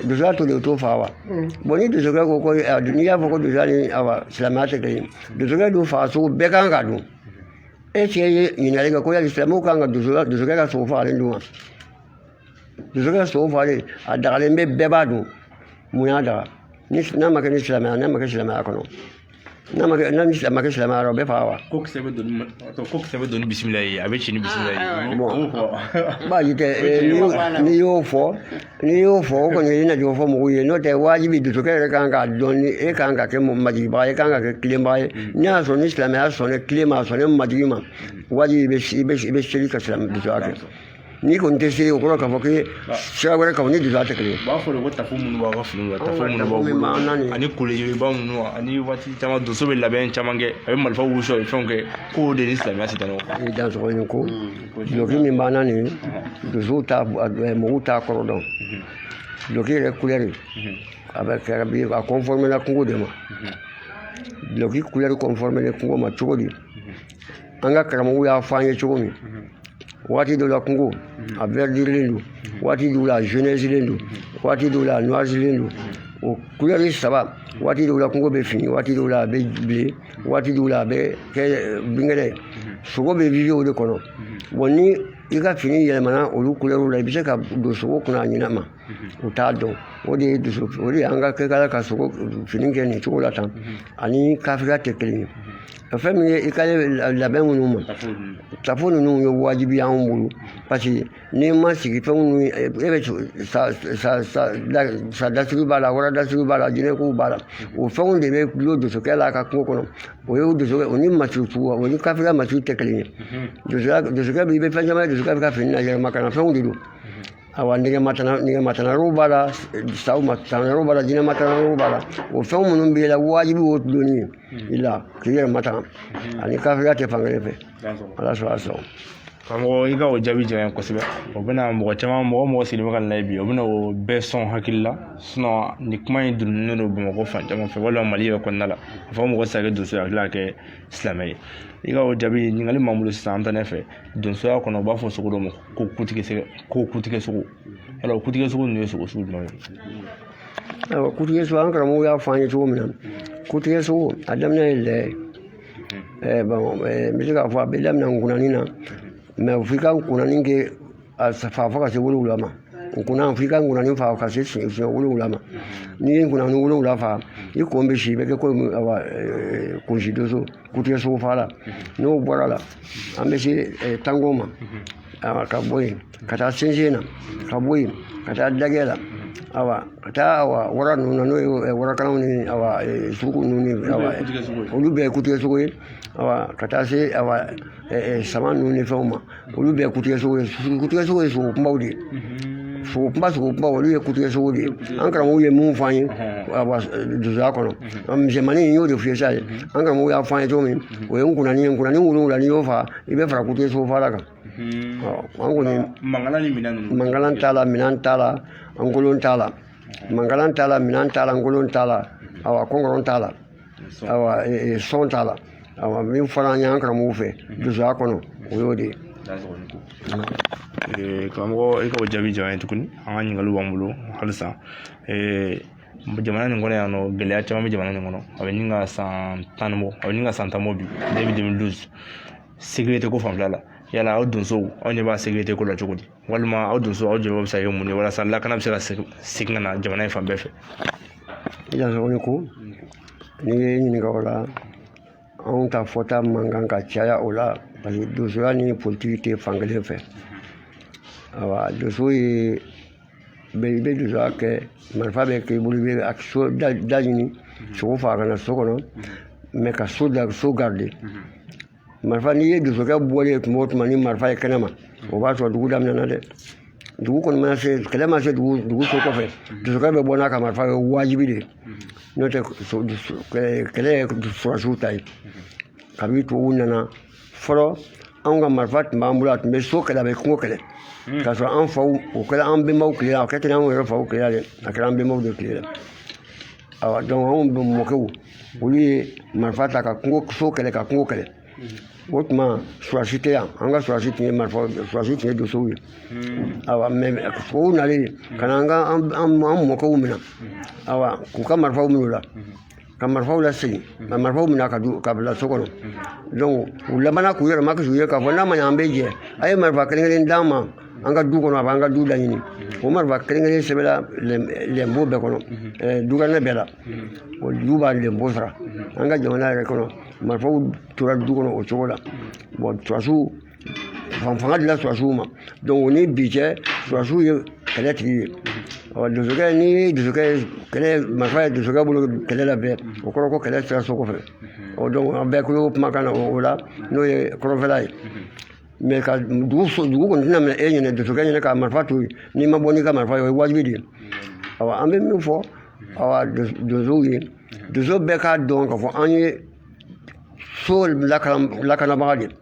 donsoya to de o t'o fa wa bɔn ni donsokɛ ko ko n'i y'a fɔ ko donsoya ni awa silamɛya tɛ kelen donsokɛ dun faga sogo bɛɛ kan ka dun e cɛ ye ɲininkali kɛ ko yali silamɛw kan ka donsokɛ donsokɛ ka sogo fagalen dun wa donsokɛ ka sogo fagalen a dagalen bɛ bɛɛ b'a dun mun y'a daga n'a ma kɛ ni silamɛya n'a ma kɛ silamɛya kɔnɔ n'a ma kɛ n'a ni silamɛ kɛ silamɛya rɔ bɛ faga wa ko kisɛ bɛ don to ko kisɛ bɛ don ni bisimila ye a bɛ ci ni bisimila ye Ah, Bon. o fɔ baasi tɛ eh, n'i y'o- n'i y'o fɔ n'i y'o fɔ o kɔni ye na jɔ fɔ mɔgɔw ye n'o tɛ waajibi donsokɛ yɛrɛ kan k'a dɔn ni e kan ka kɛ majigibaga ye e kan ka kɛ tilenbaga ye n'i y'a sɔrɔ ni silamɛya sɔnna tilen ma a sɔnna majigi ma waajibi i bɛ i bɛ i bɛ seli ka silamɛ donsoya kɛ n'i kɔni tɛ se o kɔrɔ k'a fɔ k'i ye sira wɛrɛ kan o ni donsoya tɛ kelen ye. u b'a fɔ de ko tafo minnu b'aw ka finiw na Anw tafo ka minnu tafo b'aw min bolo b'an na nin ye. ani kolojɛba ninnu ani waati caman donso bɛ labɛn caman kɛ a bɛ marifaw wusu a bɛ fɛnw kɛ k'o de ni silamɛya tɛ taa ɲɔgɔn kan. ni dansɔgɔ in ko duloki min b'an na nin donsow t'a eh, mɔgɔw t'a kɔrɔ dɔn duloki yɛrɛ kulɛri a bɛ kɛra bi a kɔnfɔrmela kungo de ma duloki kulɛri kɔnfɔrmelen kungo ma cogo di an ka karamɔgɔw y'a fɔ an ye cogo min waati dɔw la kungo a vɛridilen don waati dɔw la a zenɛsilen don waati dɔw la a nuwasilen don o kulɛri saba waati dɔw la kungo bɛ fin waati dɔw la a bɛ bilen waati dɔw la a bɛ kɛ eh, binkɛnɛ ye sogo bɛ vivi o de kɔnɔ bɔn ni i ka fini yɛlɛmana olu kulɛriw la i bɛ se ka don sogo kunna a ɲinɛ ma u t'a dɔn o de ye donso o de an ka kɛ kala ka sogo fini kɛ nin cogo la tan ani kafiriya tɛ kelen ye fɛn min ye i ka labɛn minnu ma tafo ninnu ye wajibi anw bolo parce que n'i ma sigi fɛn minnu e bɛ sa dasiri b'a la wara dasiri b'a la jinɛkow b'a la o fɛnw de bɛ dulon donsokɛ la a ka kungo kɔnɔ o ye donsokɛ o ni masiw sugu o ni kafiriya masiw tɛ kelen ye donsokɛ donsokɛ bɛ i bɛ fɛn caman ye donsokɛ bɛ ka fini na yɛrɛmakana fɛnw de don Awa nɛgɛ matanga nɛgɛ matangalan b'a la saw matangalan b'a la jinɛ matangalan b'a la o fɛn minnu b'i la wajibi o donni ye i la k'i yɛrɛ matanga ani kafiriya tɛ fankelen fɛ ala sɔrɔ a sɔrɔ karamɔgɔ i ka o jaabi diyara n ye kosɛbɛ o bɛna mɔgɔ caman mɔgɔ mɔgɔ sigilen bɛ k'a lajɛ bi o bɛna o bɛɛ son hakili la nin kuma in donnen don bamakɔ fan caman fɛ walima mali yɛrɛ kɔnɔna la a fɔ mɔgɔ tɛ se ka kɛ donso ye a tila ka kɛ silamɛ ye i ka o jaabi ɲininkali min b'an bolo sisan an bɛ taa ɲɛfɛ donsoya kɔnɔ u b'a fɔ sogo dɔ ma ko kutigɛ sogo ko kutigɛ sogo yala o kutigɛ sogo ninnu ye sogo sugu jumɛn ye ayiwa kutigɛ sogo an karamɔgɔ y'a fɔ an ye cogo min na kutigɛ sogo a daminɛ ye lɛ ye ɛɛ bɔn ɛɛ n bɛ se k'a fɔ a bɛ daminɛ nkunani na mɛ f'i ka nkunani kɛ a fa fo ka se wolonwula ma nkunan f'i ka nkunani fa ka se siɲɛ siɲɛ wolonwula ma n'i ye nkunani wolonwula fa i kun bɛ si i bɛ kɛ komi awa kunsi doso kutigɛ sogo fagala n'o bɔra la an bɛ se eh, tankɔn ma awa ka bɔ yen ka taa sɛnsɛn na ka bɔ yen ka taa dagɛ la awa ka taa awa wara ninnu na n'o ye eh, warakalanw ni awa eh, suruku ninnu ni awa olu bɛɛ ye kutigɛ sogo ye awa ka taa se awa eh, eh, sama ninnu ni fɛnw ma olu bɛɛ ye kutigɛ sogo ye kutigɛ sogo ye sogo kunbaw de ye sogo kunba sogo kunba olu ye kutigɛ sogo de ye an karamɔgɔw ye mun f'an ye donsoya kɔnɔ misɛnmanin in y'o de f'i ye sa ye an karamɔgɔw y'a f'an ye cogo min o ye nkunani ye nkunani wolonwula n'i y'o fa i bɛ fara kutigɛ sogo faga kan an kɔni mankalan ni minɛn ninnu mankalan t'a la minɛn t'a la nkolon t'a la mankalan t'a la minɛn t'a la nkolon t'a la awa kɔnkɔrɔn t'a la sɔn t'a la min fɔra an y'an karamɔgɔw fɛ donsoya kɔnɔ o y'o de ye karamɔgɔ i ka o jaabi diyara n ye tuguni an ka ɲininkaliw b'an bolo halisa jamana nin kɔnɔ yan nɔ gɛlɛya caman bɛ jamana nin kɔnɔ a bɛ ɲini ka san tan ni bɔ a bɛ ɲini ka san tan bɔ bi deux mille douze sécurité ko fanfɛla la yala aw donsow aw ɲɛ b'a sécurité ko la cogo di walima aw donsow aw jɔyɔrɔ bɛ se ka kɛ mun ye walasa lakana bɛ se ka segin ka na jamana in fan bɛɛ fɛ i dansɔgɔ ni ko n'i ye n ɲininka o la anw ta fɔta man kan ka caya o la parce que donsoya ni politiki tɛ fan kelen fɛ awa donso ye bɛ i bɛ donsoya kɛ marifa bɛ k'i bolo i bɛ a so da ɲini sogo faga ka na so kɔnɔ mɛ ka so da so garde marifa n'i ye donsokɛ bɔlen ye tuma o tuma ni marifa ye kɛnɛ ma o b'a sɔrɔ dugu daminɛna dɛ dugu kɔni mana se kɛlɛ ma se dugu dugu so kɔfɛ donsokɛ bɛ bɔ n'a ka marifa ye wajibi de n'o tɛ kɛlɛ ye surasiw ta ye kabini tubabuw nana fɔlɔ anw ka marifa tun b'an bolo a tun bɛ so kɛlɛ a bɛ kungo kɛlɛ hmm. k'a sɔrɔ an faw o kɛra an bɛnbaw tile la a kɛ tɛ an yɛrɛ faw tile la dɛ a kɛra an bɛnbaw de tile la awa donc anw bɛ mɔkɛw olu ye marifa ta ka kungo so kɛlɛ ka kungo kɛlɛ o tuma surasi tɛ yan an ka surasi tun ye marifa surasi tun ye donsow ye awa mɛ tubabuw nalen ka na an ka an mɔkɛw minɛ awa k'u ka marifaw minɛ u la ka marifaw lasegin ka marifaw minɛ ka ka bila so kɔnɔ donc u labanna k'u yɛrɛ makasi u ye k'a fɔ n'a ma ɲɛ an bɛ jɛ a ye marifa kelen kelen d'an ma an ka du kɔnɔ a b'an ka du laɲini o marifa kelen-kelen sɛbɛnna lɛnpo bɛɛ kɔnɔ dukɛnɛ bɛɛ la o du b'a lɛnpo sara an ka jamana yɛrɛ kɔnɔ marifaw tora du kɔnɔ o cogo la bon surasiw fanga dila surasiw ma donc o ni bi cɛ surasiw ye kɛlɛ tigi ye ɔ donsokɛ ni donsokɛ kɛlɛ marifa ye donsokɛ bolo kɛlɛ la bɛɛ o kɔrɔ ko kɛlɛ sera so kɔfɛ ɔ donc an bɛɛ kulo kumakan na o la n'o ye kɔrɔnfɛla ye mais ka dugu so dugu kɔni tɛna minɛ e ɲɛna donsokɛ ɲɛna ka marifa to yen n'i ma bɔ n'i ka marifa ye o ye wajibi de ye awa an bɛ min fɔ awa donsow ye donso bɛɛ k'a dɔn k'a fɔ an ye so lakanabaga de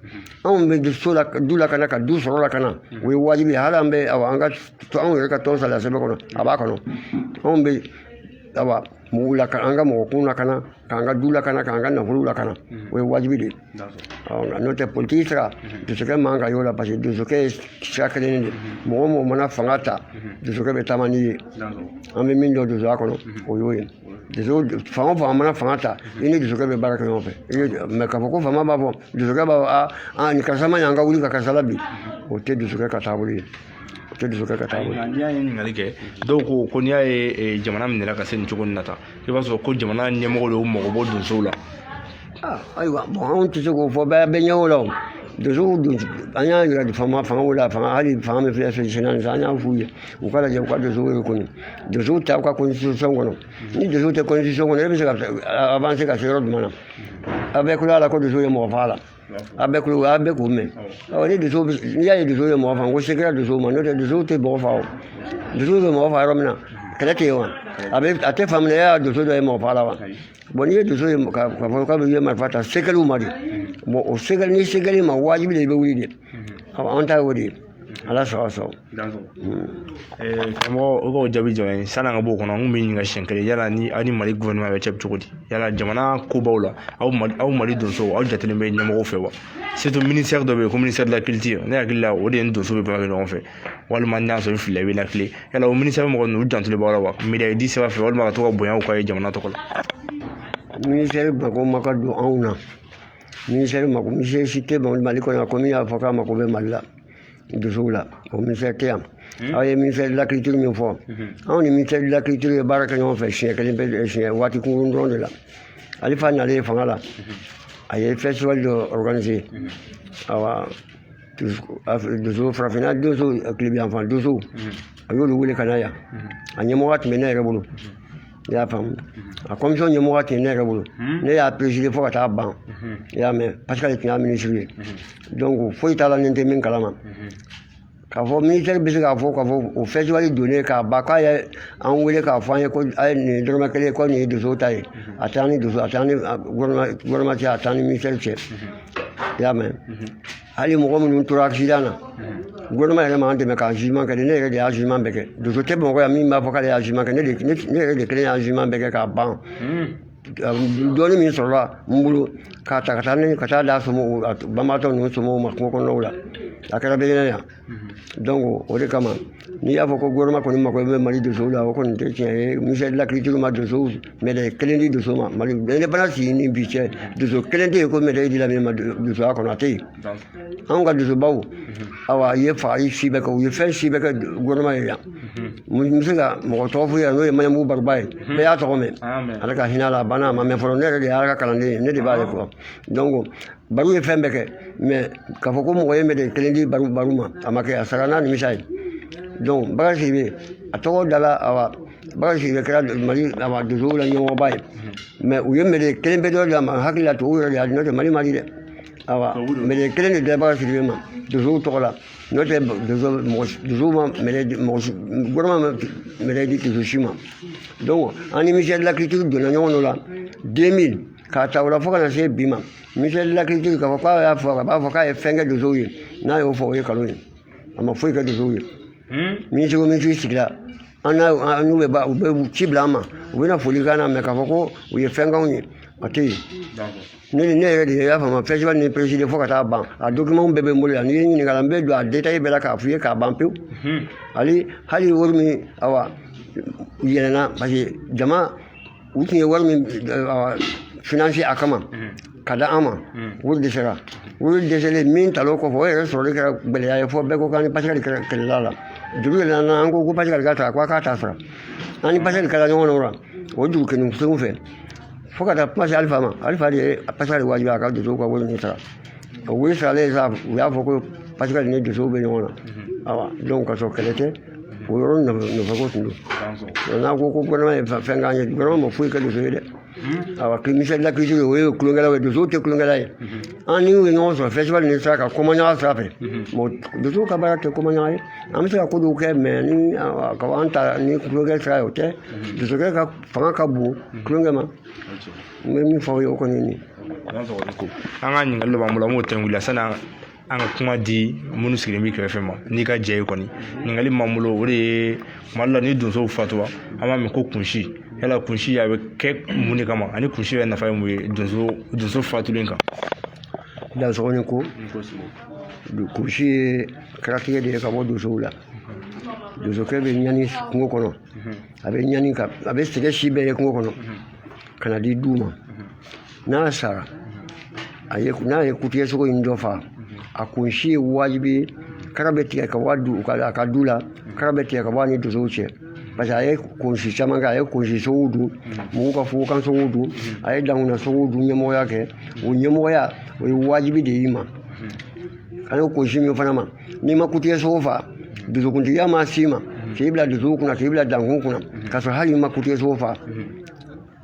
anw bɛ so la du lakana ka du sɔrɔ lakana o ye wajibi ye hali an bɛ awa an ka anw yɛrɛ ka tɔn sariya sɛbɛn kɔnɔ a b'a kɔnɔ anw bɛ awa mɔgɔw lakana an ka mɔgɔkun lakana k'an ka du lakana k'an ka nafolo lakana o ye wajibi de ye nka n'o tɛ politiki sira donsokɛ man kan y'o la parce que donsokɛ ye sira kelen de mɔgɔ o mɔgɔ mana fanga ta donsokɛ bɛ taama n'i ye an bɛ min dɔn donsoya kɔnɔ o y'o ye donso fanga o fanga mana fanga ta i ni donsokɛ bɛ baara kɛ ɲɔgɔn fɛ mais k'a fɔ ko fanga b'a fɔ donsokɛ b'a fɔ a a nin karisa ma ɲɛ an ka wuli ka karisa labin o tɛ donsokɛ ka taabolo ye o tɛ donsokɛ ka taabolo ye n'i y'a ye ɲininkali kɛ dɔw ko ko n'i y'a ye jamana minɛ ka se nin cogo in na tan i b'a sɔrɔ ko jamana ɲɛmɔgɔw de y'u mago bɔ donsow la ayiwa bon anw tɛ se k'o fɔ bɛɛ bɛ ɲɛ o la o donsow don an y'a yira de fanga fangaw la fanga hali fanga min filɛ fɛn senna nin an y'a f'u ye u ka lajɛ u ka donsow reconnu donsow ta u ka constitution kɔnɔ ni donsow tɛ constitution kɔnɔ e bɛ se ka avancer ka se yɔrɔ jumɛn na a bɛɛ kulo a la ko donsow ye mɔgɔ faga la a bɛɛ kulo a bɛɛ k'o mɛn ɔ ni donso n'i y'a ye donsow ye mɔgɔ faga ko se kɛra donsow ma n'o tɛ donsow tɛ mɔgɔ faga o donsow bɛ mɔgɔ faga yɔrɔ min na kɛlɛ tɛ yen wa a bɛ a tɛ faamuya y'a donso dɔ ye mɔgɔ faga la wa bon n'i ye donso ye k'a fɔ k'a bɛ ye marifa ta se kɛl'u ma de bon o se kɛl'i ni se kɛl'i ma wajibi de i bɛ wuli de an ta y'o de ye ala sago aw sago karamɔgɔ o k'o jaabi jɔ ye san'an ka bɔ o kɔnɔ an kun b'i ɲininka siɲɛ kelen yala ni aw ni mali gɔfɛrɛnaman bɛ cɛ cogo di yala jamana kobaw la aw mali aw mali donsow aw jatelen bɛ ɲɛmɔgɔw fɛ wa ministère dɔ bɛ yen ko ministère de la culture ne hakili la o de ni donsow bɛ baara kɛ ɲɔgɔn fɛ walima n'a sɔrɔ n filila i bɛ n lakilen yala o ministère mɔgɔ ninnu u jantolen b'aw la wa médaille di sira fɛ walima ka to ka bonyaw k'aw ye jamana tɔgɔ la ministère mako ma ka don anw na ministère mako ministère si tɛ mali kɔnɔ yan ko min y'a fɔ k'a mako bɛ mali la donsow la o ministère tɛ yan hmm? aw ye ministère de la culture min fɔ hmm. anw ni ministère de la culture ye baara kɛ ɲɔgɔn fɛ siɲɛ kelen pe siɲɛ waati kunkurun dɔrɔn de la alfa nalen fanga la hmm. a ye festival dɔ organiser awa donso farafinna donso tilebin yanfan donso a y'olu wele ka na yan a ɲɛmɔgɔya tun bɛ ne yɛrɛ bolo i y'a faamu a commission ɲɛmɔgɔya tun ye ne yɛrɛ bolo ne y'a présider fo ka taa ban i y'a mɛn parce que ale tun y'a minisiri ye donc foyi t'a la ni n tɛ min kalama k'a fɔ ministère bɛ se k'a fɔ k'a fɔ o festival donnen k'a ban k'a ye an wele k'a fɔ an ye ko a ye nin dɔrɔmɛ kelen ko nin ye donso ta ye a t'an ni donso a t'an ni gouvernement cɛ a t'an ni ministère cɛ i y'a mɛn hali mɔgɔ minnu tora accident na gouvernement yɛrɛ m'an dɛmɛ ka jugement kɛ dɛ ne yɛrɛ de y'a jugement bɛɛ kɛ donso tɛ bamakɔ yan min b'a fɔ k'ale y'a jugement kɛ ne de ne ne yɛrɛ de kelen y'a jugement bɛɛ kɛ k'a ban dɔɔni min sɔrɔla n bolo k'a ta ka taa ne ka taa d'a somɔgɔw a banbaatɔ ninnu somɔgɔw ma kungo kɔnɔnaw la a kɛra bɛɛ ɲɛna yan donc o de kama n'i y'a fɔ ko gouvernement kɔni mako bɛ mali donsow la o kɔni tɛ tiɲɛ ye ministère de la culture ma donsow médaille kelen di donso ma mali indépendance sigi ni bi cɛ donso kelen tɛ yen ko médaille dila min ma donsoya kɔnɔ a tɛ yen anw ka donsobaw awa ye fagali si bɛɛ kɛ u ye fɛn si bɛɛ kɛ gouvernement ye yan n bɛ se ka mɔgɔ tɔgɔ f'u ye n'o ye maɲabugu baruba ye bɛɛ y'a tɔgɔ mɛn ala ka hinɛ a la a banna a ma mɛn fɔlɔ ne yɛrɛ de y'a ka kalanden ye ne de b'ale fɔ donc baru ye fɛn bɛɛ kɛ mais k'a fɔ ko mɔgɔ ye médaille kelen di baru baru ma a ma kɛ a sara n'a nimisa ye donc bakari sidibe a tɔgɔ dala awa bakari sidibe kɛra mali awa donsow la ɲɛmɔgɔba ye mais u ye médaille kelenpe dɔ di a ma hakili la tubabu yɛrɛ de y'a di n'o tɛ mali m'a di dɛ awa médaille kelen de dila bakari sidibe ma donsow tɔgɔ la n'o tɛ donso mɔgɔ donsow ma médaille di mɔgɔ si gouvernement ma médaille di donso si ma donc an ni ministère de la culture donna ɲɔgɔn dɔ la 2000 k'a ta o la fo ka na se bi ma ministère de la culture k'a fɔ k'a y'a fɔ a b'a fɔ k'a ye fɛn kɛ donsow ye n'a y'o fɔ o ye nkalon ye a ma foyi kɛ donsow ye minisiri o minisiri sigira an n'a n'u bɛ ba u bɛ ci bila an ma u bɛna foli k'an na mais k'a fɔ ko u ye fɛn k'anw ye a tɛ yen ne ni ne yɛrɛ de y'a faamu festival ni présider fo ka taa ban a dokimanw bɛɛ bɛ n bolo yan n'i ye ɲininka la n bɛ don a détail bɛɛ la k'a f'i ye k'a ban pewu hali hali wari min awa yɛlɛnna parce que jama u tun ye wari min financer a kama ka da an ma wari dɛsɛra wari dɛsɛlen min talen o kɔfɛ o yɛrɛ sɔrɔli kɛra gɛlɛya ye fo bɛɛ ko k'an ni pascal kɛlɛla la dugu yɛrɛ nana an ko ko pascal ka ta ko a k'a ta sara an ni pascal kɛra ɲɔgɔn na o la o dugu kelen kelenw fɛ fo ka taa kuma se alifa ma alifa de ye pascal wajibiya ka donsow ka wari ni sara o wari saralen sa u y'a fɔ ko pascal ni donsow bɛ ɲɔgɔn na awa donc ka sɔrɔ kɛlɛ tɛ o yɔrɔ nafa nafa ko tun don n'a ko ko gouvernement ye fɛn k'an ye gouvernement ma foyi kɛ donso ye dɛ awa ministère de la culture o ye tulonkɛlaw ye donsow tɛ tulonkɛla ye an ni u ye ɲɔgɔn sɔrɔ festival ni sira kan komaɲaga sira fɛ mɔgɔ donsow ka baara tɛ komaɲaga ye an bɛ se ka ko dɔw kɛ mais n'i ko an ta ni tulonkɛ sira ye o tɛ donsokɛ ka fanga ka bon tulonkɛ ma n bɛ min fɔ aw ye o kɔni ye nin an ka ɲininkali dɔ b'an bolo an b'o tɛnku la sanni an an ka kuma di minnu sigilen b'i kɛrɛfɛ ma n'i ka jɛ ye kɔni ɲininkali m'an bolo o de ye tuma dɔ la ni donsow fatura an b'a mɛn ko kunsi yala kunsi a bɛ kɛ mun de kama ani kunsi yɛrɛ nafa ye mun ye donso donso fatulen kan dansɔgɔ ni ko kunsi ye karatigɛ de ye ka bɔ donsow la donsokɛ bɛ ɲani kungo kɔnɔ a bɛ ɲani a bɛ sɛgɛn si bɛɛ ye kungo kɔnɔ ka na di du ma n'a sara a ye n'a ye kutigɛsogo in dɔ fa a kunsi ye wajibi ye kara bɛ tigɛ ka bɔ a du ka a ka du la kara bɛ tigɛ ka bɔ a ni dosow cɛ parce que a ye kunsi caman kɛ a ye kunsi sogow dun mɔgɔw ka fugokan sogow dun a ye dankunna sogow dun ɲɛmɔgɔya kɛ o ɲɛmɔgɔya o ye wajibi de y'i ma an ye kunsi min fana ma n'i ma kutigɛsogo fa dosokuntigiya ma s'i ma k'i bila dosow kunna k'i bila dankun kunna k'a sɔrɔ hali n'i ma kutigɛsogo fa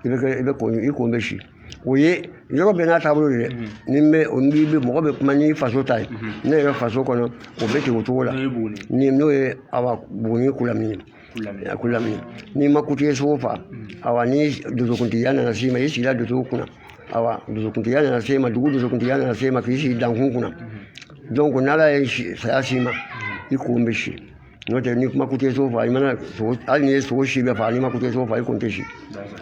i bɛ kɛ i bɛ ko i kun bɛ si o ye yɔrɔ bɛɛ n'a taabolo de dɛ ni bɛ o ni bɛ mɔgɔ bɛ kuma n'i faso ta ye ne yɛrɛ faso kɔnɔ o bɛ ten o cogo la ni n'o ye awa buguni kulamini ye a kulamini ye n'i ma kutigɛsogo fa awa ni dosokuntigiya nana s'i ma i sigila dosow kunna awa dosokuntigiya nana s'i ma dugu dosokuntigiya nana s'i ma k'i sigi dankun kunna donc n'ala ye saya s'i ma i kun bɛ si n'o tɛ n'i ma kutigɛsogo fa i mana sogo hali n'i ye sogo si bɛɛ faga n'i ma kutigɛsogo fa i kun tɛ si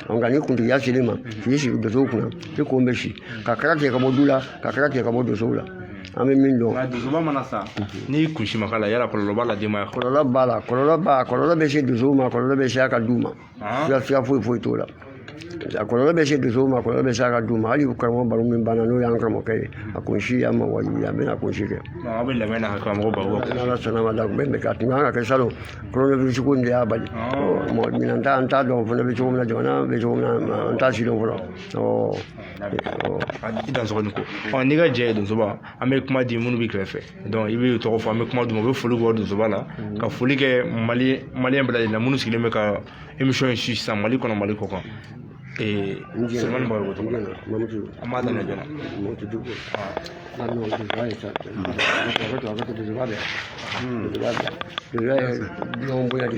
nka ni kuntigiya selen ma k'i sigi donsow kunna i kun bɛ si ka kara tigɛ ka bɔ du la ka kara tigɛ ka bɔ donsow la an bɛ min dɔn. nka donsoba mana sa ni kunsi ma k'a la yala kɔlɔlɔ b'a la denbaya. kɔlɔlɔ b'a la kɔlɔlɔ b'a kɔlɔlɔ bɛ se dosow ma kɔlɔlɔ bɛ se a ka du ma. filafila foyi foyi t'o la a kɔlɔlɔ bɛ se dosow ma a kɔlɔlɔ bɛ se a ka du ma hali karamɔgɔ baro min banna n'o y'an karamɔgɔkɛ ye a kunsi y'a ma wajibi a bɛna kunsi kɛ aw bɛ labɛn na karamɔgɔ baro n'ala sɔnn'a ma da kun bɛ a tun kan ka kɛ salon coronavirus ko in de y'a bali mɔgɔ ɲinan ta an t'a dɔn fana bɛ cogo min na jamana bɛ cogo min na an t'a sidɔn fɔlɔ ɔ i dansɔgɔ ni ko ɔ n'i ka jɛ ye donsoba an bɛ kuma di minnu b'i kɛrɛfɛ donc i bɛ tɔgɔ fɔ an bɛ kuma d'u ma u bɛ foli kɛ donsoba la mm. ka foli kɛ mali maliyɛn bɛɛ lajɛlen na minnu sigilen bɛ ka émission in suivre sisan mali kɔnɔ mali kɔkan Sulemani Bagayogo ko tɔgɔ an b'a daminɛ joona ɲɔgɔn bonya de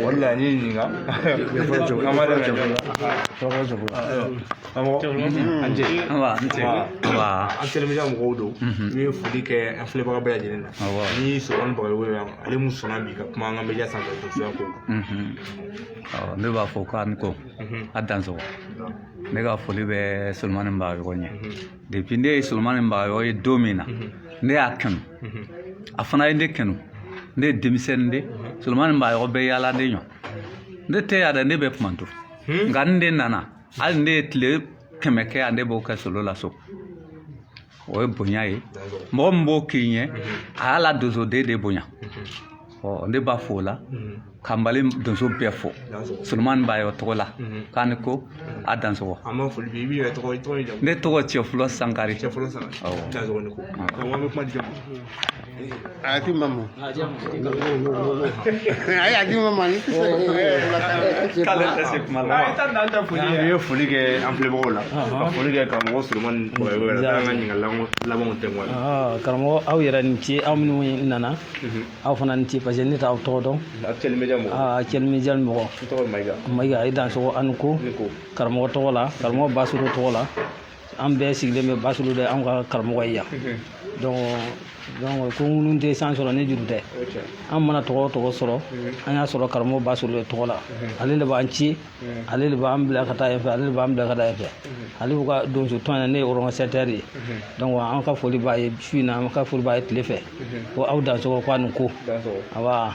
o de la n y'i ɲininka an b'a daminɛ joona an telemedia mɔgɔw don n ye foli kɛ an filɛbaga bɛɛ lajɛlen na ni solomani bagayogo yan ale min sɔnna bi ka kuma an ka media sanfɛ ko ne b'a fɔ k'an ko a dansɔgɔ ne ka foli bɛ solomani bagayogo ɲɛ depuis ne ye solomani bagayogo ye don min na ne y'a kanu a fana ye ne kanu ne ye denmisɛnnin de solomani bagayogo bɛ yaala ne ɲɔ ne tɛ yan dɛ ne bɛ kumantu nka n de nana hali ne ye tile kɛmɛ kɛ yan ne b'o kɛ solo la so o ye bonya ye mɔgɔ min b'o k'i ɲɛ a y'a la donsoden de bonya ɔ ne b'a fo o la ka mali donso bɛɛ fo solomani bagayɔgɔ tɔgɔ la k'a ni ko a dansɔgɔ ne tɔgɔ cɛfulɔ sankari àti mama ayi àti mama ni an ye foli kɛ an filɛbagaw la ka foli kɛ karamɔgɔ solomani bagayɔgɔ yɛrɛ la an ka ɲininkali labanw tɛ wa karamɔgɔ aw yɛrɛ ni ce aw minnu nana aw fana ni ce parce que ne t'aw tɔgɔ dɔn actuel média mɔgɔ actuel média mɔgɔ n tɔgɔ mayiga mayiga i dansɔgɔ a ni ko karamɔgɔ tɔgɔ la karamɔgɔ basolo tɔgɔ la an bɛɛ sigilen bɛ basolo de an ka karamɔgɔ ye yan donc ko ŋunu tɛ san sɔrɔ ni juru tɛ an mana tɔgɔ o tɔgɔ sɔrɔ an y'a sɔrɔ karamɔgɔ basolo de tɔgɔ la ale de b'an ci ale de b'an bila ka taa yen fɛ ale de b'an bila ka taa yen fɛ ale b'u ka donso tɔn yɛrɛ ne ye organisateur ye donc an ka foli b'a ye su in na an ka foli b'a ye tile fɛ ko aw dansɔgɔ ko a ni ko awa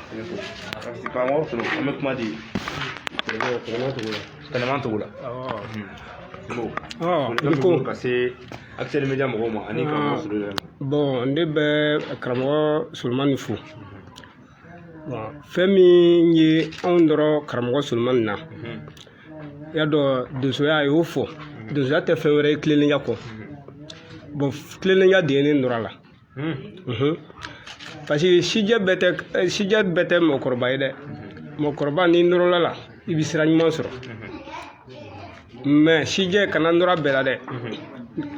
karamɔgɔ solo an bɛ kuma di Tɛnɛnman Togo la ko ka se actuel média mɔgɔw ma ani karamɔgɔ Solo yɛrɛ ma bon ne bɛ karamɔgɔ Solomani fo fɛn min ye an nɔrɔ karamɔgɔ Solomani na i y'a dɔn donsoya a y'o fɔ donsoya tɛ fɛn wɛrɛ ye tilennenya kɔ bon tilennenya de ye ne nɔrɔ a la parce que sijɛ bɛɛ tɛ sijɛ bɛɛ tɛ mɔgɔkɔrɔba ye dɛ mɔgɔkɔrɔba n'i nɔrɔla a la i bɛ sira ɲuman sɔrɔ mais sijɛ kana nɔrɔ bɛɛ la dɛ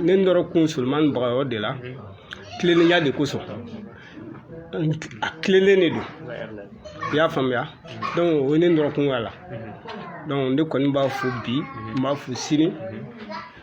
ne nɔrɔ kun solomani bagayɔgɔ de la tilennenya de kosɔn a tilennen de don i y'a faamuya donc o ye ne nɔrɔ kun y'a la donc ne kɔni b'a fo bi n b'a fo sini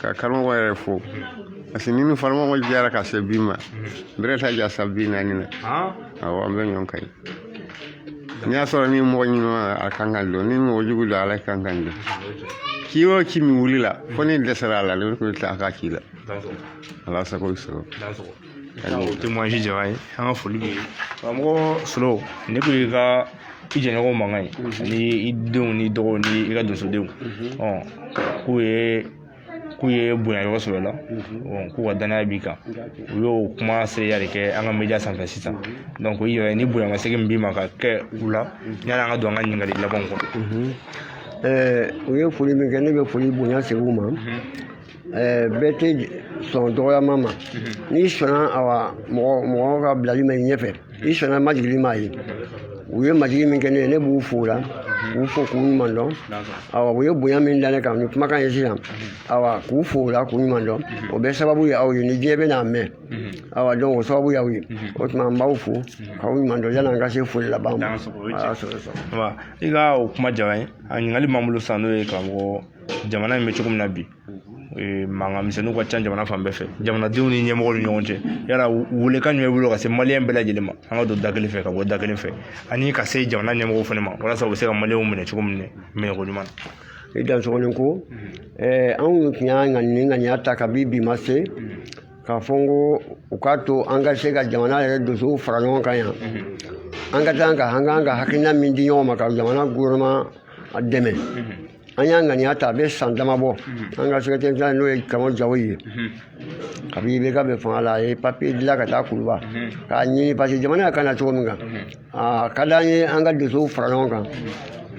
ka karamɔgɔ yɛrɛ fo parce que ne ni karamɔgɔ jɛra ka se bi ma a bɛrɛ t'a jan san bi naani na awɔ an bɛ ɲɔgɔn kan n'i y'a sɔrɔ ni mɔgɔ ɲuman a kan k'a dɔn ni mɔgɔ jugu don ale kan k'a dɔn ci o ci min wulila fo ni dɛsɛra a la ne bɛ taa a ka ci la ala sago i sago o tɛ mɔnsi jaba ye an ka foli bɛ karamɔgɔ solo ne ko i ka i jɛɲɔgɔn mankan ye ani i denw ni dɔgɔw ni i ka donsodenw k'u ye k'u ye bonya yɔrɔ sɔrɔ i la k'u ka danaya b'i kan u y'o kuma seereya de kɛ an ka media sanfɛ sisan donc i yɛrɛ ni bonyamasegin min b'i ma ka kɛ u la yani an ka don an ka ɲininkali labanw kɔnɔ o ye foli min kɛ ne bɛ foli bonya segin u ma bɛɛ tɛ sɔn dɔgɔyama ma n'i sɔnna awa mɔgɔ mɔgɔ ka bilali ma i ɲɛfɛ i sɔnna majigili ma ye u ye majigi min kɛ ne ye ne b'u fo o la k'u fo k'u ɲuman dɔn awa u ye bonya min da ne kan ni kumakan ye sisan awa k'u fo o la k'u ɲuman dɔn o bɛɛ sababu ye aw ye ni diɲɛ bɛ n'a mɛn awa donc o sababu y'aw ye o tuma n b'aw fo k'aw ɲuman dɔn yan'an ka se foli laban ma i ka o kuma jara n ye a ɲininkali b'an bolo sisan n'o ye karamɔgɔ jamana in bɛ cogo min na bi mankan misɛnninw ka ca jamana fan bɛɛ fɛ jamanadenw ni ɲɛmɔgɔw ni ɲɔgɔn cɛ yala weelekan jumɛn bolo ka se maliyɛn bɛɛ lajɛlen ma an ka don da kelen fɛ ka bɔ da kelen fɛ ani ka se jamana ɲɛmɔgɔw fana ma walasa u bɛ se ka maliyɛnw minɛ cogo min na minɛko ɲuman na i dansogo i ni ko anw tun y'a ŋaniya ŋaniya ta kabi bi ma se k'a fɔ n ko u k'a to an ka se ka jamana yɛrɛ donsow fara ɲɔgɔn kan yan an ka taa ka an ka hakilina min di ɲɔgɔn ma ka jamana gouvernement dɛmɛ an y'a ŋaniya ta a bɛ san dama bɔ an ka secrétaire général n'o ye karamɔgɔ jawoyi ye kabi IBK bɛ fanga la a ye papier dilan ka taa kuluba k'a ɲini parce que jamana ka na cogo min kan a ka d'an ye an ka donsow fara ɲɔgɔn kan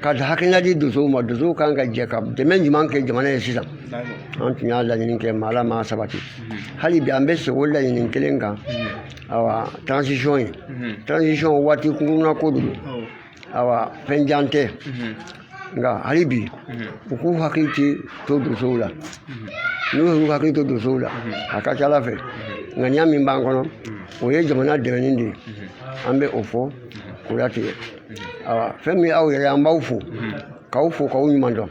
ka hakilina di donsow ma donsow kan ka jɛ ka dɛmɛ ɲuman kɛ jamana ye sisan an tun y'a laɲini kɛ mais ala m'a sabati hali bi an bɛ segin o laɲini kelen kan awa transition ye transition waati kunkurunna ko don awa fɛn jan tɛ nka hali bi u k'u hakili ci to donsow la n'u y'u hakili to donsow la a ka ca ala fɛ ŋaniya min b'an kɔnɔ o ye jamana dɛmɛni de ye an bɛ o fɔ k'o latigɛ awa fɛn min aw yɛrɛ an b'aw fo k'aw fo k'aw ɲuman dɔn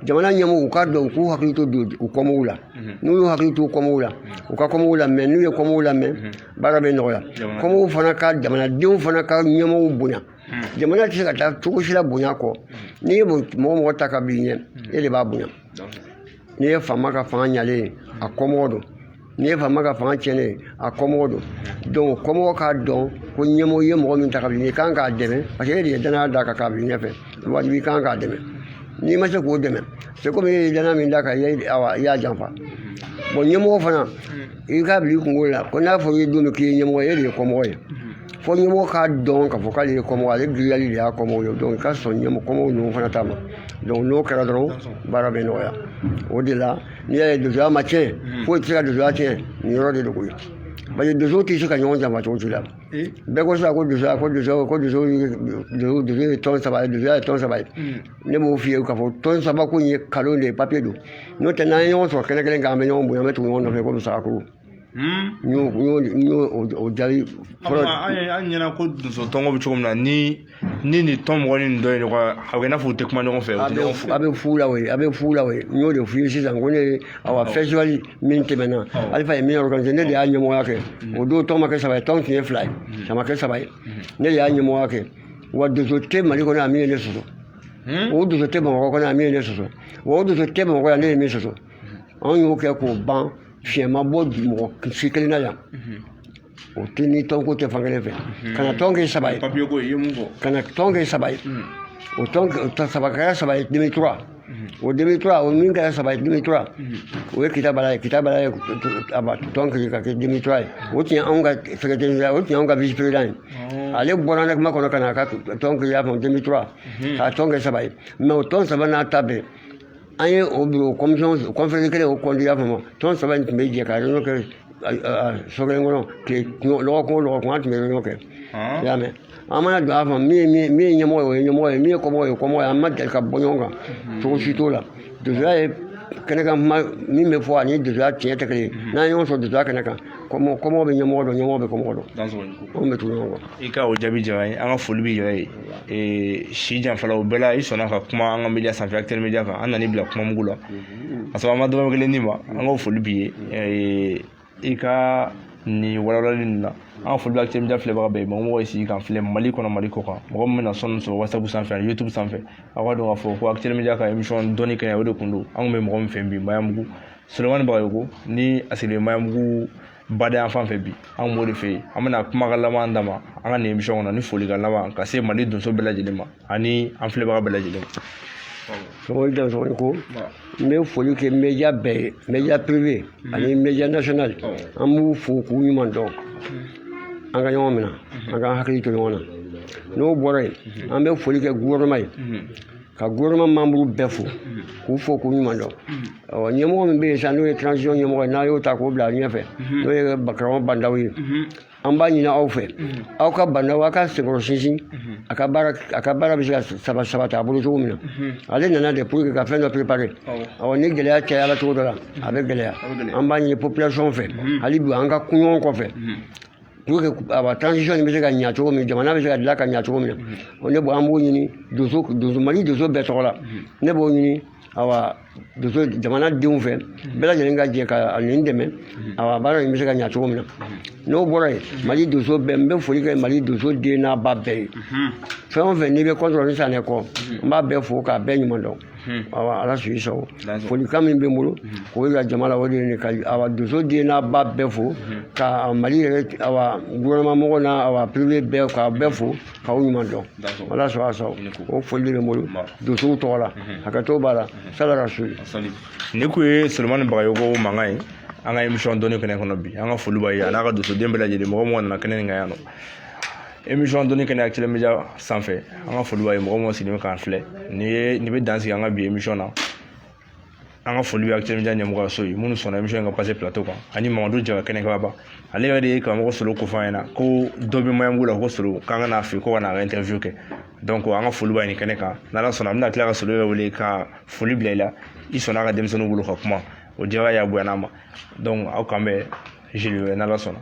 jamana ɲɛmɔgɔw u k'a dɔn u k'u hakili to u kɔmɔgɔw la n'u y'u hakili to u kɔmɔgɔw la u ka kɔmɔgɔw lamɛn n'u ye kɔmɔgɔw lamɛn baara bɛ nɔgɔya kɔmɔgɔw fana ka jamanadenw fana ka ɲɛmɔgɔw bonya hmm. jamana tɛ se ka taa cogo si la bonya kɔ n'i ye mɔgɔ mɔgɔ ta k'a b'i ɲɛ hmm. e de b'a bonya n'i ye faama ka fanga ɲalen ye a kɔmɔgɔ don n'i ye faama ka fanga tiɲɛnen ye a kɔmɔgɔ don donc kɔmɔgɔ k'a dɔn ko ɲɛmɔgɔ ye mɔgɔ min ta k'a b'i ɲɛ i kan k'a dɛmɛ parce que e de ye danaya d'a kan k'a b'i ɲɛfɛ wajibi i kan k'a dɛmɛ n'i ma se k'o dɛmɛ c'est comme e ye danaya min d'a kan i y'a janfa hmm. bon ɲɛmɔgɔ fana i k'a bila i kunkolo la ko n'a fɔra i ye don min k'i ye ɲɛmɔgɔ ye e de ye kɔmɔgɔ ye fo ɲɛmɔgɔ k'a dɔn k'a fɔ k'ale ye kɔmɔgɔ ale girinyali de y'a kɔmɔgɔ ye donc i ka sɔn ɲɛmɔgɔ kɔmɔgɔw ninnu fana ta ma donc n'o kɛra dɔrɔn baara bɛ nɔgɔya o de la n'i y'a ye donsoya ma tiɲɛ foyi tɛ se ka donsoya tiɲɛ nin yɔrɔ de don koyi parce que donso tɛ se ka ɲɔgɔn janfa cogo si la bɛɛ ko sisan ko donsoya ko donso ko donso donso ye tɔn saba ye donsoya ye tɔn saba ye ne b'o f'i ye k'a fɔ tɔn saba ko in ye nkalon de ye papiye don n'o tɛ n'an ye ɲɔgɔn sɔrɔ kɛnɛ kelen kan an bɛ ɲɔgɔn bonya an bɛ tugu ɲɔgɔn nɔfɛ komi sagakulu n y'o n y'o n y'o o jaabi fɔlɔ an ye an ɲɛna ko donso tɔnko bɛ cogo min na ni ni nin tɔn mɔgɔ ni nin dɔ ye ɲɔgɔn ye a bɛ i n'a fɔ u tɛ kuma ɲɔgɔn fɛ u a tɛ bɛ ɲɔgɔn fo a bɛ fu la o ye a bɛ fu la o ye n y'o de f'i ye sisan ko ne ye awa festival min tɛmɛna alifa ye min organisé ne de y'a ɲɛmɔgɔya kɛ o don tɔn ma kɛ saba ye tɔn tun ye fila ye a ma kɛ saba ye ne de y'a ɲɛmɔgɔya kɛ wa donso tɛ mali kɔnɔ yan min ye ne sɔsɔ o donso tɛ bamakɔ kɔnɔ yan min ye ne sɔsɔ wa o donso tɛ bamakɔ yan ne ye min sɔsɔ anw y'o kɛ k'o ban fiɲɛ ma bɔ mɔgɔ si kelen na yan o tɛ ni tɔnko tɛ fan kelen fɛ ka na tɔn kɛ saba ye ka na tɔn kɛ saba ye o tɔn saba kɛra saba ye deux mille trois o deux mille trois o min kɛra saba ye deux mille trois o ye kita bala ye kita bala ye tɔn créer k'a kɛ deux mille trois ye o tun ye anw ka secrétaire o tun ye anw ka vice président ye ale bɔra ne kuma kɔnɔ ka na a ka tɔn créer a fɔ deux mille trois k'a tɔn kɛ saba ye mais o tɔn saba n'a ta bɛɛ an ye o bureau commission conférence kelen o kɔnti y'a faamu tɔn saba in tun bɛ jɛ ka réunion kɛ so kelen kɔnɔ tile lɔgɔkun o lɔgɔkun an tun bɛ réunion kɛ i y'a mɛn an mana don a kan min ye min ye ɲɛmɔgɔ ye o ye ɲɛmɔgɔ ye min ye kɔmɔgɔ ye o ye kɔmɔgɔ ye an ma deli ka bɔ ɲɔgɔn kan cogo si t'o la donsoya ye kɛnɛ kan kuma min bɛ fɔ ani donsoya tiɲɛ tɛ kelen ye n'an ye ɲɔgɔn sɔrɔ donsoya kɛnɛ kan kɔmɔ kɔmɔgɔ bɛ ɲɛmɔgɔ dɔn ɲɛmɔgɔ bɛ kɔmɔgɔ dɔn anw bɛ tugu ɲɔgɔn kɔ i ka o jaabi diyara n ye an ka foli b'i yɛrɛ ye ee, si janfala o bɛɛ la i sɔnna ka kuma an ka media sanfɛ actel media kan an nan'i bila kuma mugu la ka sɔrɔ an ma dɔrɔmɛ kelen d'i ma an ka foli b'i ye ee, i ka nin walawalali nin na an ka foli bɛ actel media filɛbaga bɛɛ ye mɔgɔ mɔgɔ ye sigi k'an filɛ mali kɔnɔ mali kɔkan mɔgɔ min bɛna son nin sɔrɔ whatsapp sanfɛ ani youtube sanfɛ aw k'a dɔn k'a fɔ ko actel media ka émission dɔnni kɛnɛ o de kun don an kun bɛ mɔgɔ min fɛ bi maɲanbugu solomani bagayoko ni a sigilen maɲanbugu bada yanfan fɛ bi an b'o de fɛ yen an bɛna kumakan laban d'a ma an ka nin émission kɔnɔ ni folikan laban ka se mali donso bɛɛ lajɛlen ma ani an filɛbaga bɛɛ lajɛlen sogo da sogo ko n bɛ foli kɛ media bɛɛ ye media privé ani media national an b'u fo k'u ɲuman dɔn an ka ɲɔgɔn minɛ an ka hakili to ɲɔgɔn na n'o bɔra yen an bɛ foli kɛ gouvernement ye ka gouvernement membre bɛɛ fo k'u fo k'u ɲuman dɔn ɔ ɲɛmɔgɔ min bɛ yen sisan n'o ye transition ɲɛmɔgɔ ye n'a y'o ta k'o bila ɲɛfɛ n'o ye karamɔgɔ ba ndaw ye an b'a ɲini aw fɛ aw ka ba ndaw aw k'a senkɔrɔ sinsin a ka baara a ka baara bɛ se ka saba sabati a bolo cogo min na ale nana de pour que ka fɛn dɔ préparer awɔ ni gɛlɛya cayala cogo dɔ la a bɛ gɛlɛya an b'a ɲini population fɛ hali bi an ka tugu ɲɔgɔn kɔfɛ pour que awa transition nin bɛ se ka ɲa cogo min jamana bɛ se ka dilan ka ɲa cogo min na ne b'o an b'o ɲini donso donso mali donso bɛɛ tɔgɔ la ne b'o ɲini awa donso jamana denw fɛ bɛɛ lajɛlen ka jɛ ka nin dɛmɛ awa baara in bɛ se ka ɲa cogo min na n'o bɔra yen mali donso bɛɛ n bɛ foli kɛ mali donso den n'a ba bɛɛ ye fɛn o fɛn n'i bɛ kɔntɔrɔ ni sanɛ kɔ n b'a bɛɛ fo k'a bɛɛ ɲuman dɔn awa ala sago i sago folikan min bɛ n bolo k'o yira jama la o de ye nin ka awa donso den n'a ba bɛɛ fo ka mali yɛrɛ awa gouvernement mɔgɔw n'a awa privé bɛɛ k'a bɛɛ fo k'aw ɲuman dɔn ala sago a sago o foli bɛ n bolo donsow tɔgɔ la hakɛto b'a la sala ka so nin kun ye solomani bagayogo mankan ye an ka émission dɔnni kɛnɛ kɔnɔ bi an ka foli b'a ye a n'a ka donsoden bɛɛ lajɛlen mɔgɔ mɔgɔ nana kɛnɛ nin kan yan nɔ émission dɔnni kɛnɛ actuel media sanfɛ an ka foli b'a ye mɔgɔ mɔgɔ sigilen bɛ k'an filɛ nin bɛ dan sigi an ka bi émission na an ka foli bɛ actuel media ɲɛmɔgɔyaso ye minnu sɔnna émission in ka passer plateau kan ani mamadu jara kɛnɛkɛbaba ale yɛrɛ de ye karamɔgɔ solo ko fɔ an ɲɛna ko dɔ bɛ maɲanbugu la ko solo k'an ka n'a fɛ ko ka n'a ka interview kɛ donc an ka foli b'a ye nin kɛnɛ kan n'ala sɔnna an bɛna tila ka solo yɛrɛ wele ka foli bila i la i sɔnna a ka denmisɛnninw bolo ka kuma o diyara an ye a bonyana an ma donc aw k'an bɛn jeudi wɛrɛ n'ala sɔnna